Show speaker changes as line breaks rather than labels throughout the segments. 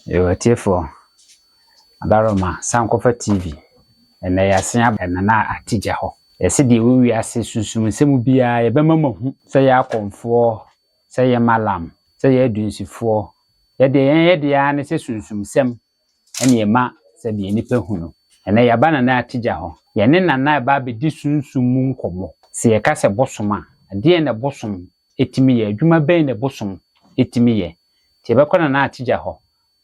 Yo atiefoɔ, Abaroma san kɔfa TV. Ɛnnɛ yɛasea aba Nana Atigya hɔ. Yɛse deɛ ɛwɔ wiase sunsum nsɛm biara yɛbɛma mo ahu. Sɛ yɛ akɔmfoɔ, sɛ yɛ malam, sɛ yɛ adunsifoɔ, yɛ deɛ yɛn yɛ deɛ ara ne sɛ sunsum nsɛm ɛne yɛma sɛdeɛ nnipa hu no. Ɛnnɛ yɛaba Nana Atigya hɔ. Yɛne Nana ɛba abɛdi sunsum mu nkɔmmɔ. Sɛ yɛka sɛ bosom a, ɛdeɛn na bosom tumi yɛ? Adwuma bɛn na bosom tumi yɛ? Nti yɛbɛkɔ Nana Atija hɔ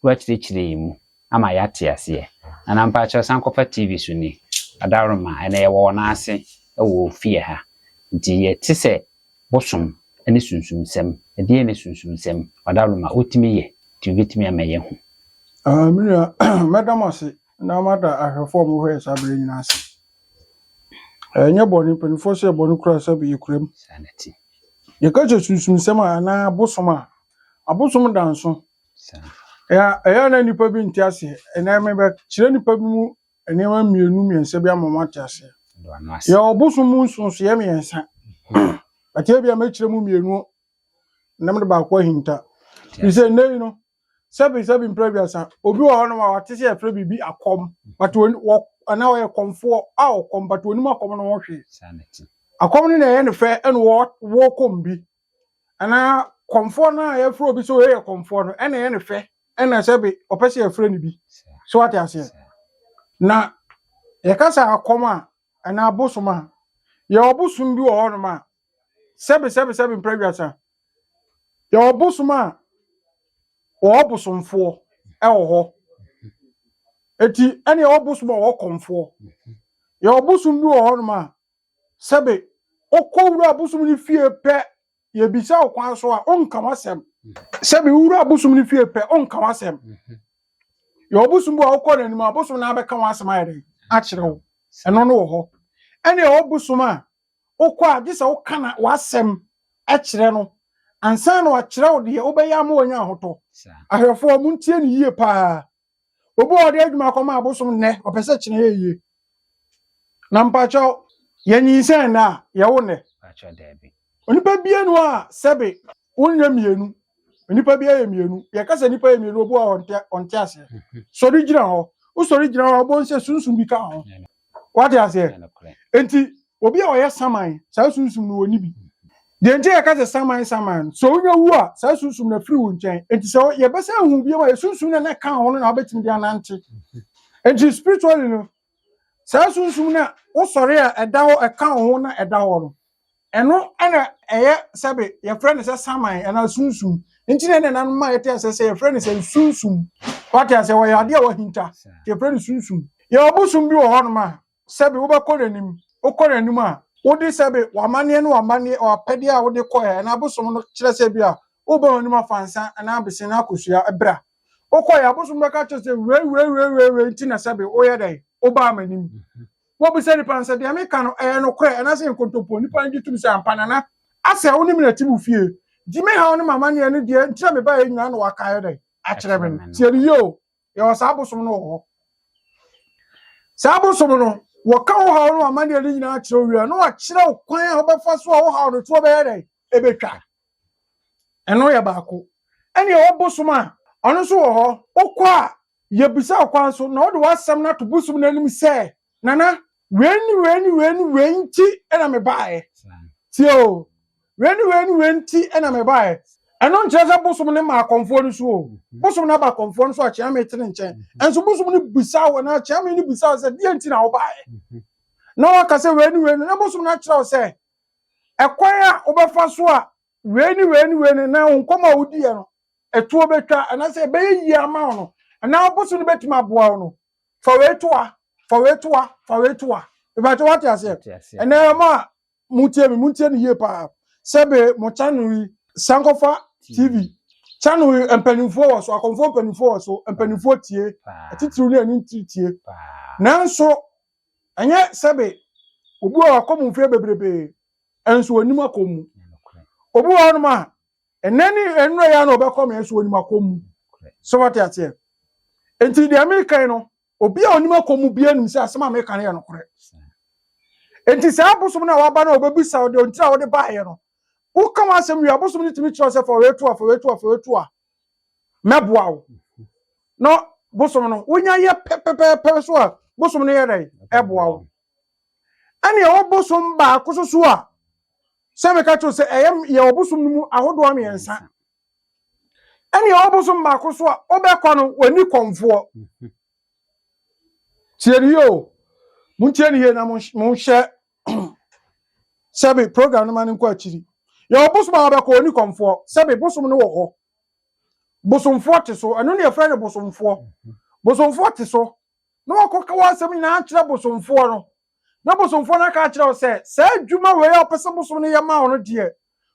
na wakyerɛkyerɛ yɛn mu ama yɛate aseɛ. Nana mpakyɛw san kɔfa TV so ni, Adaworoma, ɛnɛ yɛwɔ wɔn ase wɔ ofie ha. Nti yɛte sɛ bosom ne sunsumsɛm. Ɛdeɛn ne sunsumsɛm? Ɔdaworoma, wotumi yɛ, nti wobɛtumi ama yɛahu. Aah, me nua,
mɛda mo ase. Na mada ahwɛfoɔ a wɔhwɛ yɛn saa berɛ nyinaa ase. Ɛnyɛ bɔne, mpanimfoɔ sɛ yɛ bɔne koraa sɛ yɛkura mu.
Yɛka kyerɛ
sunsumsɛm a anaa abosom a, abosom da nso. Ɛyɛ a na nnipa bi nte aseɛ, ɛnɛ mebɛkyerɛ nnipa bi mu nneɛma mmienu mmiɛnsa bi ama moate aseɛ. Yɛwɔ abosom mu nsonsoeɛ mmiɛnsa, but ebia mɛkyerɛ mu mmienu na mede baako ahinta. Ɛfiri sɛ nnɛ yi no, sɛbi sɛbi mpere aduasa obi wɔ hɔ nom a wate sɛ yɛfrɛ biribi akɔm but wɔ anaa ɔyɛ kɔmfoɔ a ɔkɔm but onim akɔm no ho hwee akɔm
no na ɛyɛ ne
fɛ ɛna wɔ wɔ kɔm bi anaa kɔmfoɔ no a yɛfrɛ obi sɛ ɔyɛ yɛ kɔmfoɔ no ɛna ɛyɛ ne fɛ ɛna sɛbi ɔpɛ sɛ yɛfrɛ ne bi so wate aseɛ na yɛka sɛ akɔm a anaa bosom a yɛwɔ bosom bi wɔ hɔ nom a sɛbesɛbesɛbe mpra wiasa yɛwɔ bosom a wɔwɔ bosomfoɔ wɔ hɔ eti ɛne yɛwɔ bosom a wɔwɔ kɔmfoɔ yɛwɔ bosom bi wɔ hɔnom a sɛbe wokɔ wura bosom no fie pɛ yɛbisa wo kwan so a wonka w'asɛm sɛbe wura bosom no fie pɛ wonka w'asɛm yɛwɔ bosom bi a wokɔ n'anim a bosom no abɛka w'asɛm ayɛ dɛn akyerɛ wo ɛno no wɔ hɔ ɛne yɛwɔ bosom a Wokɔ a, gye sɛ woka na w'asɛm kyerɛ no ansa na wakyerɛ wo deɛ wobɛyɛ ama wanya ahotɔ. Ahwɛfoɔ, montie no yie pa ara. Obi wɔ hɔ de adwuma kɔma abosom nnɛ, ɔpɛ sɛ kyena yɛ yie. Na mpakyɛw, yɛnyinsɛn nnɛ a, yɛwo nnɛ.
Onipa biara nni hɔ
a sɛbe wonyɛ mmienu. Nnipa biara yɛ mmienu. Yɛka sɛ nnipa yɛ mmienu, obi wɔ hɔ ɔnte aseɛ. Sɔre gyina hɔ. Wosɔre gyina hɔ a, wobɛhu sɛ sunsum bi ka wo ho. wate aseɛ nti obi a ɔyɛ saman saa sunsum no wɔni bi deɛ nti yɛka sɛ saman saman sɛ wonya wu a saa sunsum no afiri wo nkyɛn nti sɛ yɛbɛsɛ ahu biom a yɛ sunsum no na ɛka ho no na wobɛtumi de anante nti spiritually no saa sunsum no a wosɔre a ɛda hɔ ɛka ho na ɛda hɔ no Ɛno na ɛyɛ sɛbe yɛfrɛ no sɛ saman anaa sunsum. Nti na ɛna ɛnanom ma yɛte asɛ sɛ yɛfrɛ no sɛ sunsum. Wate asɛ wɔyɛ adeɛ a wahinta. Nti yɛfrɛ no sunsum. Yɛwɔ bosom bi wɔ hɔnom a sɛbe wobɛkɔ n'anim. Wokɔ n'anim a, wode sɛbe w'amanneɛ ne w'amanneɛ, w'apɛdeɛ a wode kɔɛ anaa abosom no kyerɛ sɛ ebia woba w'anim afa nsa anaa abese anaa kosua bra. Wokɔeɛ a abosom no bɛka akyerɛ wo sɛ wei wei wei wei wei nti na sɛbe woyɛ dɛn? Wobaa m'anim. Wobisa nnipa no sɛ, Deɛ meka no, ɛyɛ nokorɛ anaasɛ nkontompo? Nnipa no gye tom sɛ, Ampa, Nana, asɛ wo ne me na ɛte mo fie. Gye me haw ne m'amanneɛ ne deɛ enti a mebaeɛ nyinaa na woaka ayɛ dɛn akyerɛ me no. Tie no yie o, yɛwɔ saa abosom no wɔ hɔ. Saa abosom no, wɔka wo haw ne w'amanneɛ no nyinaa kyerɛ wo wie a, na wɔakyerɛ wo kwan a wobɛfa so a wo haw no toɔ bɛyɛ dɛn? Ɛbɛtwa. Ɛno yɛ baako. Ɛne ɛwɔ bosom a, ɔno nso wɔ hɔ. Wokɔ a, yɛbisa wo kwan so na wode w'asɛm no ato bosom no anim sɛ, Nana, wei ne wei ne wei ne wei nti na mebaeɛ. Tie o, wei ne wei ne wei nti na mebaeɛ. Ɛno nkyerɛ sɛ bosom no ma akɔmfoɔ no so o. Bosom no aba akɔmfoɔ no so a, Kyeame te ne nkyɛn. Nanso bosom no bisa wo anaa Kyeame no bisa wo sɛ, deɛ nti na wobaeɛ? Na woaka sɛ wei ne wei ne, na bosom no akyerɛ wo sɛ, ɛkwan a wobɛfa so a wei ne wei ne wei no na wo nkɔmmɔ a wodiiɛ no ɛtoɔ bɛtwa anaasɛ ɛbɛyɛ yie ama wo no anaa wopɛ so no bɛtumi aboa wo no fa wei to a fa wei to a fa wei to a ɛbɛkyɛ woate aseɛ ɛnɛ ɛma a motie me montie no yie paa sɛbe mo channel yi sankɔfa tv channel yi mpanimfoɔ wɔ so akɔmfoɔ mpanimfoɔ wɔ so mpanimfoɔ tie atitiriw ne ani ntiri tie nanso Ɛnyɛ sɛbe obi wɔ hɔ akɔ mu mfeɛ bebrebe nso ɔnim akɔ mu. Obi wɔ hɔnom a ɛnɛ ne nnura yɛ na ɔbɛkɔ me nso ɔnim akɔ mu. Sɛ wɔte aseɛ. Nti deɛ mekan no obi a ɔnim akɔ mu bia nim sɛ asɛm a meka no yɛ nokorɛ. Nti saa abosom no a waba no a ɔbɛbisa wo deɛ ɔntira a wode baeɛ no woka w'asɛm wie abosom no tumi kyerɛ sɛ fa wei to a fa wei to a fa wei to a mɛboa wo na bosom no wonya yɛ pɛpɛpɛpɛ so a bosom no yɛ dɛn ɛboa wo ɛne ɛwɔ bosom baako so so a sɛ meka kyerɛ sɛ ɛyɛ yɛwɔ bosom no mu ahodoɔ mmiɛnsa ɛne ɛwɔ bosom baako so a wobɛkɔ no w'ani kɔmfoɔ tie ne yie o montie ne yie na monhyɛ sɛbe program no ma no nkɔ akyiri yɛwɔ bosom a wɔbɛkɔ ɔni kɔmfoɔ sɛbe bosom no wɔ hɔ bosomfoɔ te so ɛno ne yɛfrɛ no bosomfoɔ bosomfoɔ te so na wɔkɔ ka wɔasɛm nyinaa akyerɛ bosomfoɔ no na bosomfoɔ no aka akyerɛ wo sɛ saa adwuma wei a wɔpɛ sɛ bosom no yɛ ma wo no deɛ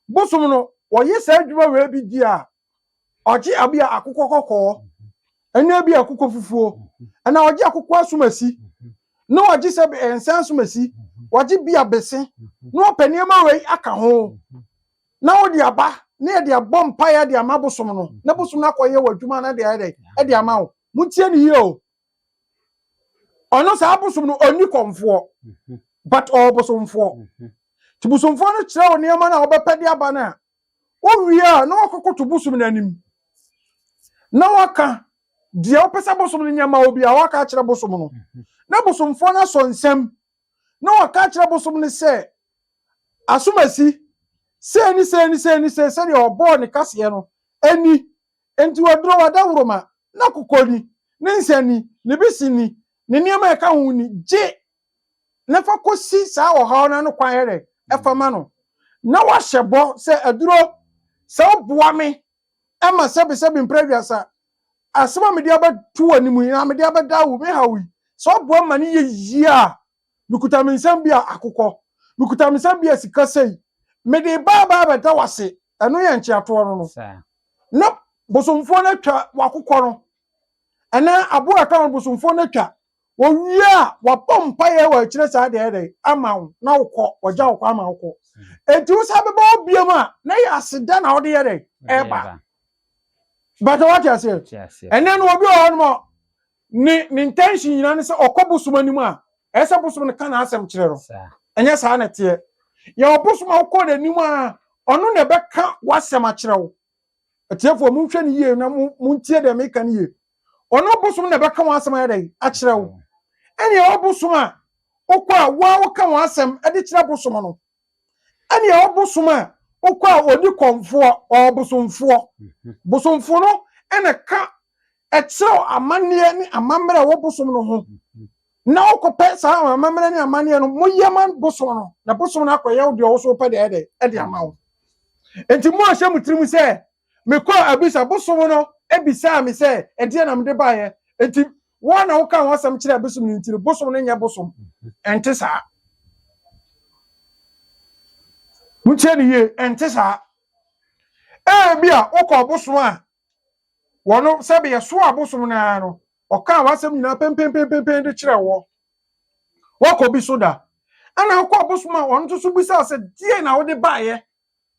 bosom no wɔyɛ saa adwuma wei bi di a ɔgye abi a akokɔ kɔkɔɔ ɛna ebi akokɔ fufuo ɛna ɔgye akokɔ asomasi na ɔgye sɛ nsa asomasi ɔgye bi abese na ɔpɛ nneɛma wei aka ho na ɔde aba na yɛde abɔ mpaeɛ de ama bosom no na bosom no akɔyɛ wɔ adwuma no de ayɛ dɛ ɛde ama wo montie ne yie o ɔno saa bosom no ɔnni kɔmfoɔ but ɔwɔ bosomfoɔ nti bosomfoɔ no kyerɛ wo nneɛma no a wɔbɛpɛ de aba no a Wowie a, na wakɔkoto bosom no anim na waka deɛ wopɛ sɛ bosom no nyɛ ma wo biara, waka akyerɛ bosom no. Na bosomfoɔ no asɔ nsɛm na waka akyerɛ bosom no sɛ, Asomasi, sei ne sei ne sei ne sei sɛdeɛ ɔbɔɔ ne kaseɛ no ni, enti waduro, wadaworoma, n'akokɔ ni, ne nsa ni, ne bese ni, ne nneɛma a ɛka ho ni, gye na fa kɔsi saa ɔhaw no ano kwan yɛrɛ ɛfa ma no, na wahyɛ bɔ sɛ aduro sɛ woboa me ɛma sɛbesɛbe mpere aduasa asɛm a mede abɛto w'anim yi na mede abɛda wo me haw yi sɛ woboa ma no yɛ yie a mekuta me nsɛm bi a akokɔ mekuta me nsɛm bi a sika sei mede baa baa bɛda wase ɛno yɛ nkyeatoɔ no no na bosomfoɔ no atwa wakokɔ no ɛnaa aboa ɛtɔ no bosomfoɔ no atwa Wɔwie a, wɔabɔ mpaeɛ a wɔakyerɛ saa deɛ ayɛ dɛn ama wo na wokɔ, wɔagya wo kwan ma wokɔ. Ɛnti wo san bɛba hɔ biom a, na ɛyɛ aseda na wode yɛ dɛn ɛreba. Bɛtɛ wate aseɛ? Ɛnɛ no obi wɔ hɔ nom a, ne ne intention nyinaa ne sɛ ɔkɔ bosom anim a, ɛyɛ sɛ bosom no ka n'asɛm kyerɛ no. Ɛnyɛ saa na ɛteɛ. Yɛwɔ bosom a wokɔ n'anim a, ɔno na ɛbɛka w'asɛm akyerɛ wo. Atiefoɔ, monhwɛ no yie na montie deɛ meka no yie. Ɔno ɔbosom na ɛbɛka wɔn asɛm ayɛ dɛn akyerɛ wo. Ɛnea ɔbosom a wokɔ a wo a woka wɔn asɛm de kyerɛ bosom no. Ɛnea ɔbosom a wokɔ a ɔdi kɔmfoɔ, ɔbosomfoɔ. Mhm. Bosomfoɔ no na ka ɛkyerɛ amanneɛ ne amammerɛ a wɔbosom no ho. Mhm. na wokɔpɛ saa amammerɛ ne amanneɛ no moyɛ ma bosom no na bosom no akɔyɛ wo deɛ wo so wopɛ deɛ ɛdɛ de ama wo nti mo ahyɛ mo tirim sɛ mekɔ abisa bosom no bisaa me sɛ ɛdeɛ na mede baeɛ nti wɔn na woka ho asɛm kyerɛ bosom no nti no bosom no nyɛ bosom ɛnte saa mokyerɛ ne yie ɛnte saa ɛbi a wokɔ bosom a Wɔn sɛbe yɛsoɔ abosom no ara no, ɔkaa w'asɛm nyinaa pɛmpɛmpɛmpɛmpɛn de kyerɛɛ woɔ. Woakɔ bi so da? Ɛna wokɔ abosom a ɔno nso so bisaa sɛ deɛ na wode baeɛ?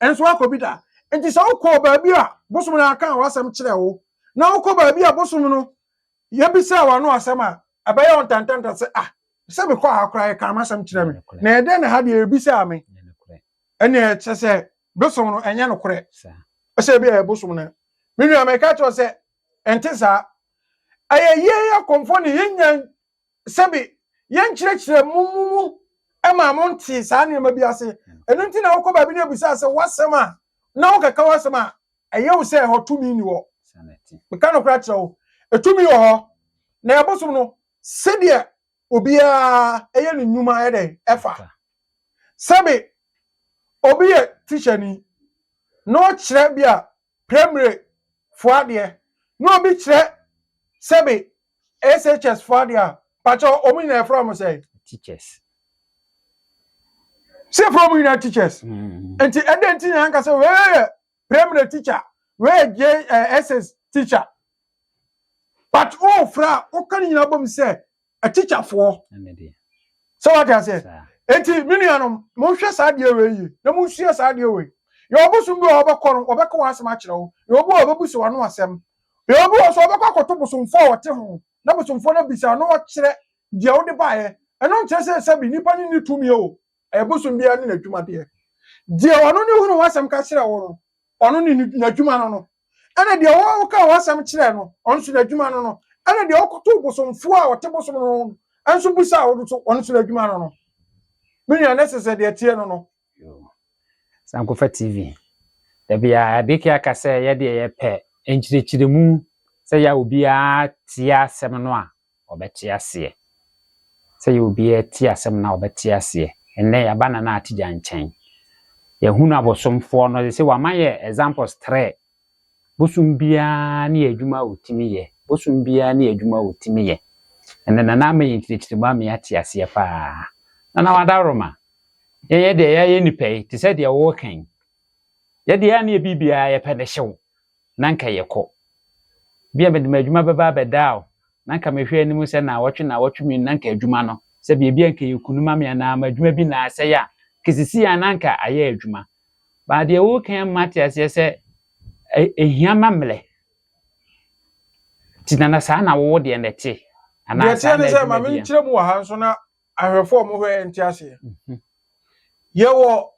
Ɛnso woakɔ bi da? Nti sɛ wokɔɔ baabi a bosom no akaa w'asɛm kyerɛɛ wo, na wokɔ baabi a bosom no yɛbisaa w'ano asɛm a, ɛbɛyɛ wo ntantanta sɛ, ah, sɛ mekɔɔ ha koraa yɛkaa m'asɛm kyerɛɛ me, na ɛdɛn na ha deɛ yɛbisaa me? Ɛnneɛ kyerɛ sɛ Bosom no ɛnyɛ nokorɛ. Sɛ ebia ɛyɛ bosom no. Me nua, meka kyerɛ wo sɛ, ɛnte saa. Ɛyɛ yɛn akɔmfoɔ na yɛnnya sɛbe yɛnkyerɛkyerɛ mo mo mu ma mo nte saa nneɛma bi ase. Ɛno nti na wokɔ baabi na ɛbisaa sɛ w'asɛm a, na wokeka w'asɛm a, ɛyɛ wo sɛ ɛhɔ tumi nni hɔ. Meka nokorɛ akyerɛ wo, ɛtumi wɔ hɔ. Na ɛyɛ bosom no, sɛdeɛ obiara ɛyɛ ne nnwuma yɛ dɛn ɛfa sɛbe obi yɛ teacher ni na ɔkyerɛ bi a primary fo adeɛ na obi kyerɛ sɛbe SHS fo adeɛ a pakyɛ ɔmo nyinaa ɛfrɛ ɔmo sɛn teachers sɛ ɛfrɛ ɔmo nyinaa teachers mm. nti ɛdɛn ti na anka sɛ wei yɛ primary teacher wei yɛ JSS teacher but wo frɛ a woka ne nyinaa bom sɛ atikyafoɔ sɛ wate aseɛ enti me nuanom monhwɛ saa deɛ wei yie na monsua saa deɛ wei yɛ ɔbosom bi a wɔbɛkɔ no wɔbɛka wɔn asɛm akyerɛ wo yɛ obi a wɔbɛbu sɛ wɔn asɛm yɛ obi wɔ so wɔbɛkɔ akɔto bosomfoɔ a wɔte ho na bosomfoɔ no abisa na wɔkyerɛ deɛ wode baeɛ ɛno nkyerɛ sɛ sɛbi nnipa no nni tumi o Ɛyɛ bosom biara ne n'adwumadeɛ. Deɛ ɔno ne wo ne w'asɛm ka kyerɛ wo no, ɔno ne n'adwuma no no. Ɛna deɛ woka w'asɛm kyerɛ no, ɔno nso n'adwuma no no. Ɛna deɛ ɔkoto bosomfoɔ a ɔte bosom no ho nso bisa wo nso, ɔno nso n'adwuma no no. Me nua, na ɛsɛ sɛ deɛ ɛteɛ no no.
Sankofa TV. Da biara Abeke aka sɛ yɛdeɛ yɛpɛ nkyerɛkyerɛmu sɛ yɛ a obiara tie asɛm no a ɔbɛte aseɛ. Sɛ yɛ obiara tie asɛm no a ɔbɛte aseɛ. Ɛnnɛ yɛaba Nana Atigya nkyɛn. Yɛahunu abosomfoɔ no. Sɛ wama yɛ examples trɛ. Bosom biara ne adwuma a ɔtumi yɛ. Bosom biara ne adwuma a ɔtumi yɛ. Ɛnnɛ Nana ama yɛn nkyerɛkyerɛ mu ama yɛate aseɛ pa ara. Nana Wadaworoma, yɛn yɛdeɛ yɛayɛ nnipa yi te sɛ deɛ woka yi. Yɛdeɛ a ne yɛ biribiara yɛpɛ no hyew. na anka yɛkɔ. Ebia mede m'adwuma bɛba abɛdaa o, na anka mehwɛ anim sɛ naawɔtwe naawɔtwe mmienu na anka adwuma no, sɛ biribi anka ɛyɛ kunu ma me anaa m'adwuma bi na asɛe a, anka sisi a na anka ayɛ adwuma. Baa deɛ woreka yi ma ate aseɛ sɛ ɛhia ma mmerɛ. Nti na na saa na wowo deɛ na ɛte? Deɛ ɛteɛ ne sɛ
ma menkyerɛ mu wɔ ha nso na ahwɛfoɔ a wɔhwɛ yɛn nte aseɛ yɛwɔ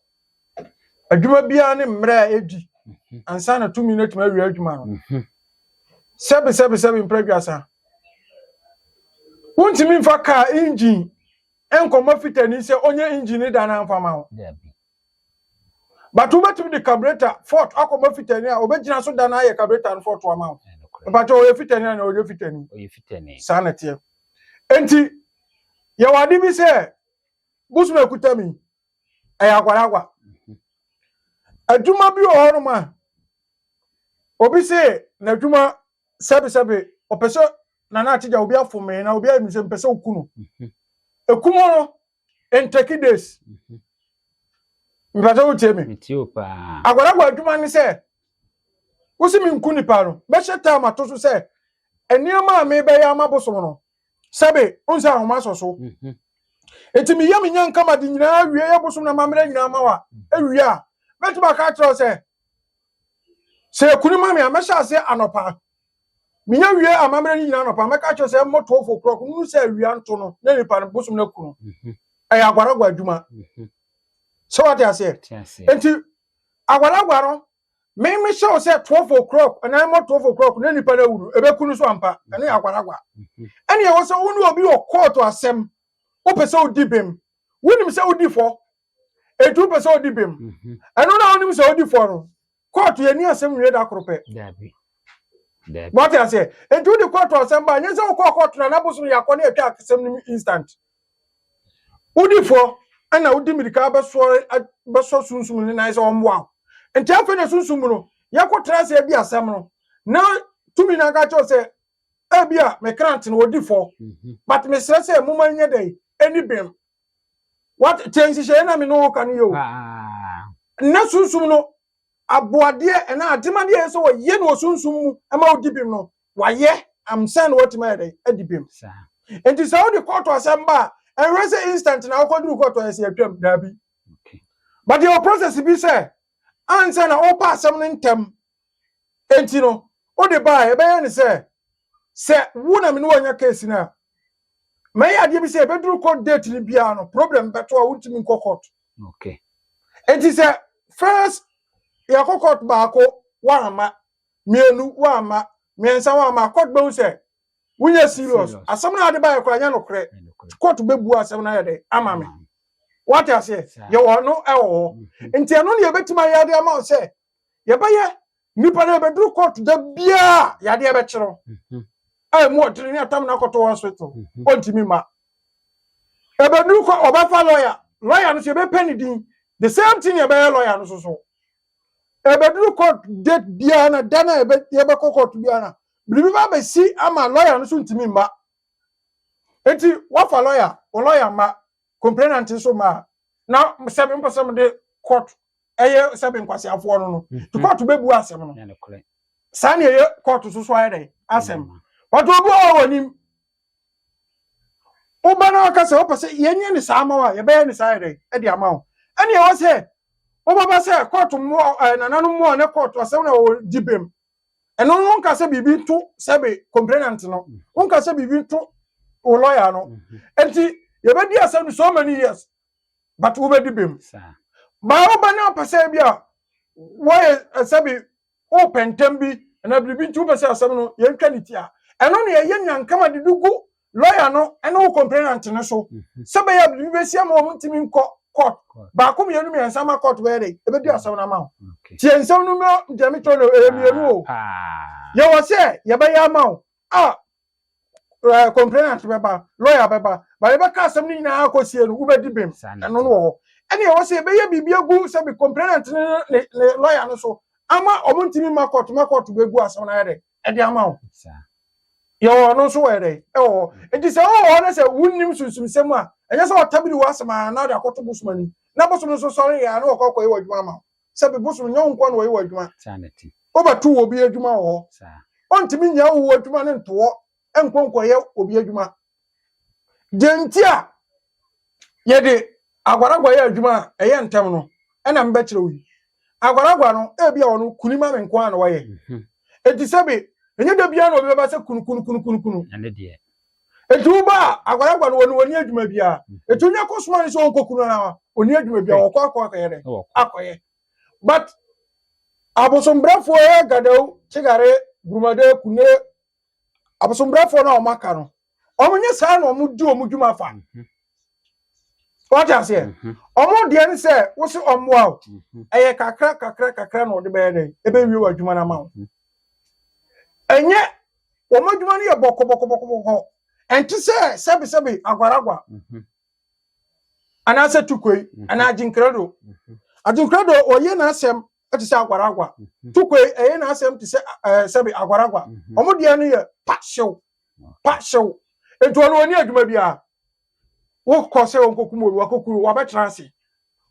adwuma biara ne mmerɛ a ɛdi ansa na tumi no atumi awie adwuma no sɛbe sɛbe sɛbe mprɛ aduasa wontumi mfa kaa engine nkɔma fitani sɛ ɔnyɛ engine ne da no amfa ma wo but wobɛtumi de carburetor fort akɔma fitani a obɛgyina so da no ayɛ carburetor no fort ama wo mpakyɛ ɔyɛ fitani a na ɔyɛ fitani saa na teɛ enti yɛwɔ ade bi sɛ bosom akuta mi ɛyɛ agwaragwa adwuma bi wɔ hɔ nom a obi se n'adwuma sɛbesɛbe ɔpɛ sɛ nana akyegya obi afomee na obi ayɛ mi sɛ mpɛ sɛ oku no ekum no in Turkey days. Mbrɛdze wo tie me. Agwaragwa
adwuma ne
sɛ wosi me nku nipa no bɛhyɛ time ato so sɛ nneɛma a mebɛyɛ ama bosom no sɛbe nsa ahoma asɔ so. Eti meyɛ me nya nkama de nyinaa wie yɛ bosom na mammerɛ nyinaa ma wa ewie a mɛtumi aka akyerɛ sɛ sɛ ekuni ma me a mɛhyɛ ase anɔpa. menya wie amammerɛ no nyinaa nɔpa mɛka kyerɛ sɛ mmɔ twelve o'clock munu sɛ awia nto no na nipa no bosom no aku no mhm. ɛyɛ agwaragwa adwuma mhm. sɛ wate aseɛ nti agwaragwa no me mehyɛ wo sɛ twelve o'clock anaa mmɔ twelve o'clock na nipa no awu no ɛbɛku no so ampa mhm. ɛne agwaragwa ɛne ɛwɔ sɛ wo ne obi wɔ kɔɔto asɛm wopɛ sɛ wodi bem wonim sɛ wodi fɔ ɛtu wopɛ sɛ wodi bem ɛno na wonim sɛ wodi fɔ no kóòtù yɛ ní asɛm nwie da koro pɛ wate aseɛ nti wode kóòtù asɛm ba nyɛ sɛ wokɔɔ kóòtù na n'abosom yɛ akɔ ne atwa asɛm no mu instant wodi fɔ ɛna wodi mirika bɛsɔ sunsum ne nan sɛ ɔmmoa wo nti afei na sunsum mu no yɛkɔtena aseɛ di asɛm no na tumi no anka kyɛw sɛ ebi a mekrant no wɔdi fɔ mhm. but mesrɛ sɛ moma nyɛ dɛ ɛni bem What te nhyehyɛeɛ na me ne wo ka no yɛ o. Nnɛ sunsum no aboadeɛ ɛna ademadeɛ yɛ sɛ wɔyɛ no wɔ sunsum mu ɛma wodi bem no wayɛ amsa na watumi ayɛ dɛn adi bem. Nti sɛ wode kɔɔto asɛm ba a ɛnhwɛ sɛ instant na wokɔduru kɔɔto ayɛ sɛ yɛtwam daabi. But yɛwɔ process bi sɛ ansa na wopa asɛm no ntɛm Enti no, wode ba a, ɛbɛyɛ ne sɛ, sɛ wo na me ne wo anya case no a, mɛyɛ adeɛ bi sɛ ɛbɛduru court date no biara no, problem bɛto a wontumi nkɔ court. Okay.
Enti sɛ
first yɛkɔ court baako woamma, mmienu woamma, mmiɛnsa woamma a, court bɛhu sɛ wonyɛ serious. Asɛm no a wode baeɛ koraa nyɛ nokorɛ. Court bɛbu asɛm no ayɛ dɛ ama me. Wate aseɛ? Yɛwɔ no ɛwɔ hɔ. Nti ɛno ne yɛbɛtumi ayɛ ade ama wo sɛ yɛbɛyɛ nnipa no yɛbɛduru kɔɔto da biara yadeɛ bɛkye no mhm. a ɛmu ɔdene ne atam no akɔto hospital mhm. ɔntumi mma ɛbɛduru kɔ ɔbɛfa lɔya lɔya no so yɛbɛpɛ ne din the same thing yɛbɛyɛ lɔya no so so ɛbɛduru court date biara na da no a yɛbɛkɔ court biara na biribi ba bɛsi ama lɔya no so ntumi mma nti wafa lɔya wo lɔya mma Complainant nso ma na sɛ me mpɛ sɛ mede court ɛyɛ sɛ me nkwaseafoɔ no no nti court bɛbu asɛm no saa ne ɛyɛ court so so ayɛ dɛ asɛm but obi wɔ wɔ nim woba na waka sɛ wopɛ sɛ yɛnyɛ ne saa ama wo a yɛbɛyɛ ne saa yɛ dɛ ɛde ama wo ɛne ɛwɔ sɛ wobɛba sɛ court mmoa nananom mmoa ne court asɛm na wɔwɔ di bem ɛno no nka sɛ biribi nto sɛbe complainant no mm-hmm. nka sɛ biribi nto wo lɔya no mm-hmm. nti yɛbɛdi asɛm no so many years but wobɛdi bem baa woba ne ɔpɛ sɛ bi a wɔyɛ eh, sɛbe wopɛ ntɛm bi anaa biribi nti wopɛ sɛ asɛm no yɛntwa ne ti a ɛno ne ɛyɛ nyankama de de gu lɔya no ne wo complainant no so sɛ bɛyɛ a biribi bɛsi ama wɔn ntumi nkɔ court baako mmienu mmiɛnsa ma court bɛyɛ dɛ ɛbɛdi asɛm no ama wo tie nsɛm no mmra deɛ mekyerɛ no ɛyɛ mmienu o yɛwɔ sɛ yɛbɛyɛ ama wo a uh, complainant bɛba lɔya bɛba ba yɛbɛka asɛm no nyinaa akɔsie no wobɛdi bem ɛno no wɔ hɔ ɛne ɛwɔ sɛ yɛbɛyɛ biribi agu sɛ bi complainant ne lɔya no so ama wɔn ntumi ma court ma court bɛgu asɛm no ayɛ dɛ ɛde ama wo yɛwɔ ɔno nso wɔyɛ dɛn ɛwɔ hɔ nti sɛ wowɔ hɔ no sɛ wonnim sunsumsɛm a ɛnyɛ sɛ wɔtabiri wɔ asɛm a na ɔde akɔto bosom ani na bosom nso sɔre yɛ a na wɔkɔ akɔyɛ wɔ adwuma ama wo sɛ bi bosom nyɛ wo nkoa na wɔyɛ wɔ adwuma wobɛto wɔ bi adwuma wɔ hɔ ɔntumi nyɛ wo adwuma no ntoɔ nkɔ nkɔyɛ obi adwuma Deɛ nti a yɛde agwaragwa yɛ adwuma a ɛyɛ ntɛm no ɛna mbɛkyerɛ wo yi. Agwaragwa no ebi a ɔno kuni ma me nko ara na wɔyɛ. Mhm. Eti sɛbi ɛnyɛ da biara na obi bɛba sɛ kunu kunu kunu kunu kunu. Ɛne deɛ.
Eti wo ba
a agwaragwa no wɔne wɔni adwuma biara. Mhm. Eti onye kɔ soma ne sɛ ɔnkɔ kunu ara ɔni adwuma biara ɔkɔ akɔ akɔyɛ dɛ akɔyɛ. But abosombrɛfoɔ yɛ gadawu kyegare gurumade kune abosombrafoɔ no a wɔaka no wɔn nyɛ saa na wɔn di wɔn dwuma fa mhm. wɔte aseɛ mhm. wɔn deɛ no sɛ wosi wɔn boa o mhm. ɛyɛ kakra kakra kakra na wɔde bɛyɛ dɛ ɛbɛwie wɔn adwuma no ama wo ɛnyɛ wɔn adwuma no yɛ bɔkɔbɔkɔbɔkɔ ɛnte sɛ sɛbesɛbe agwaragwa anaasɛ tukoi anaa agyenkrado agyenkrado wɔyɛ n'asɛm te sɛ agwaragwa. Mhm. Tukwe ɛyɛ n'asɛm te sɛ ɛɛ sɛbi agwaragwa. Mhm. Wɔn deɛ no yɛ pa hyew, pa hyew. Nti wɔn wɔn ni adwuma biara. Wokɔ sɛ wɔn kokum obi, wakokuru, wabɛtena ase.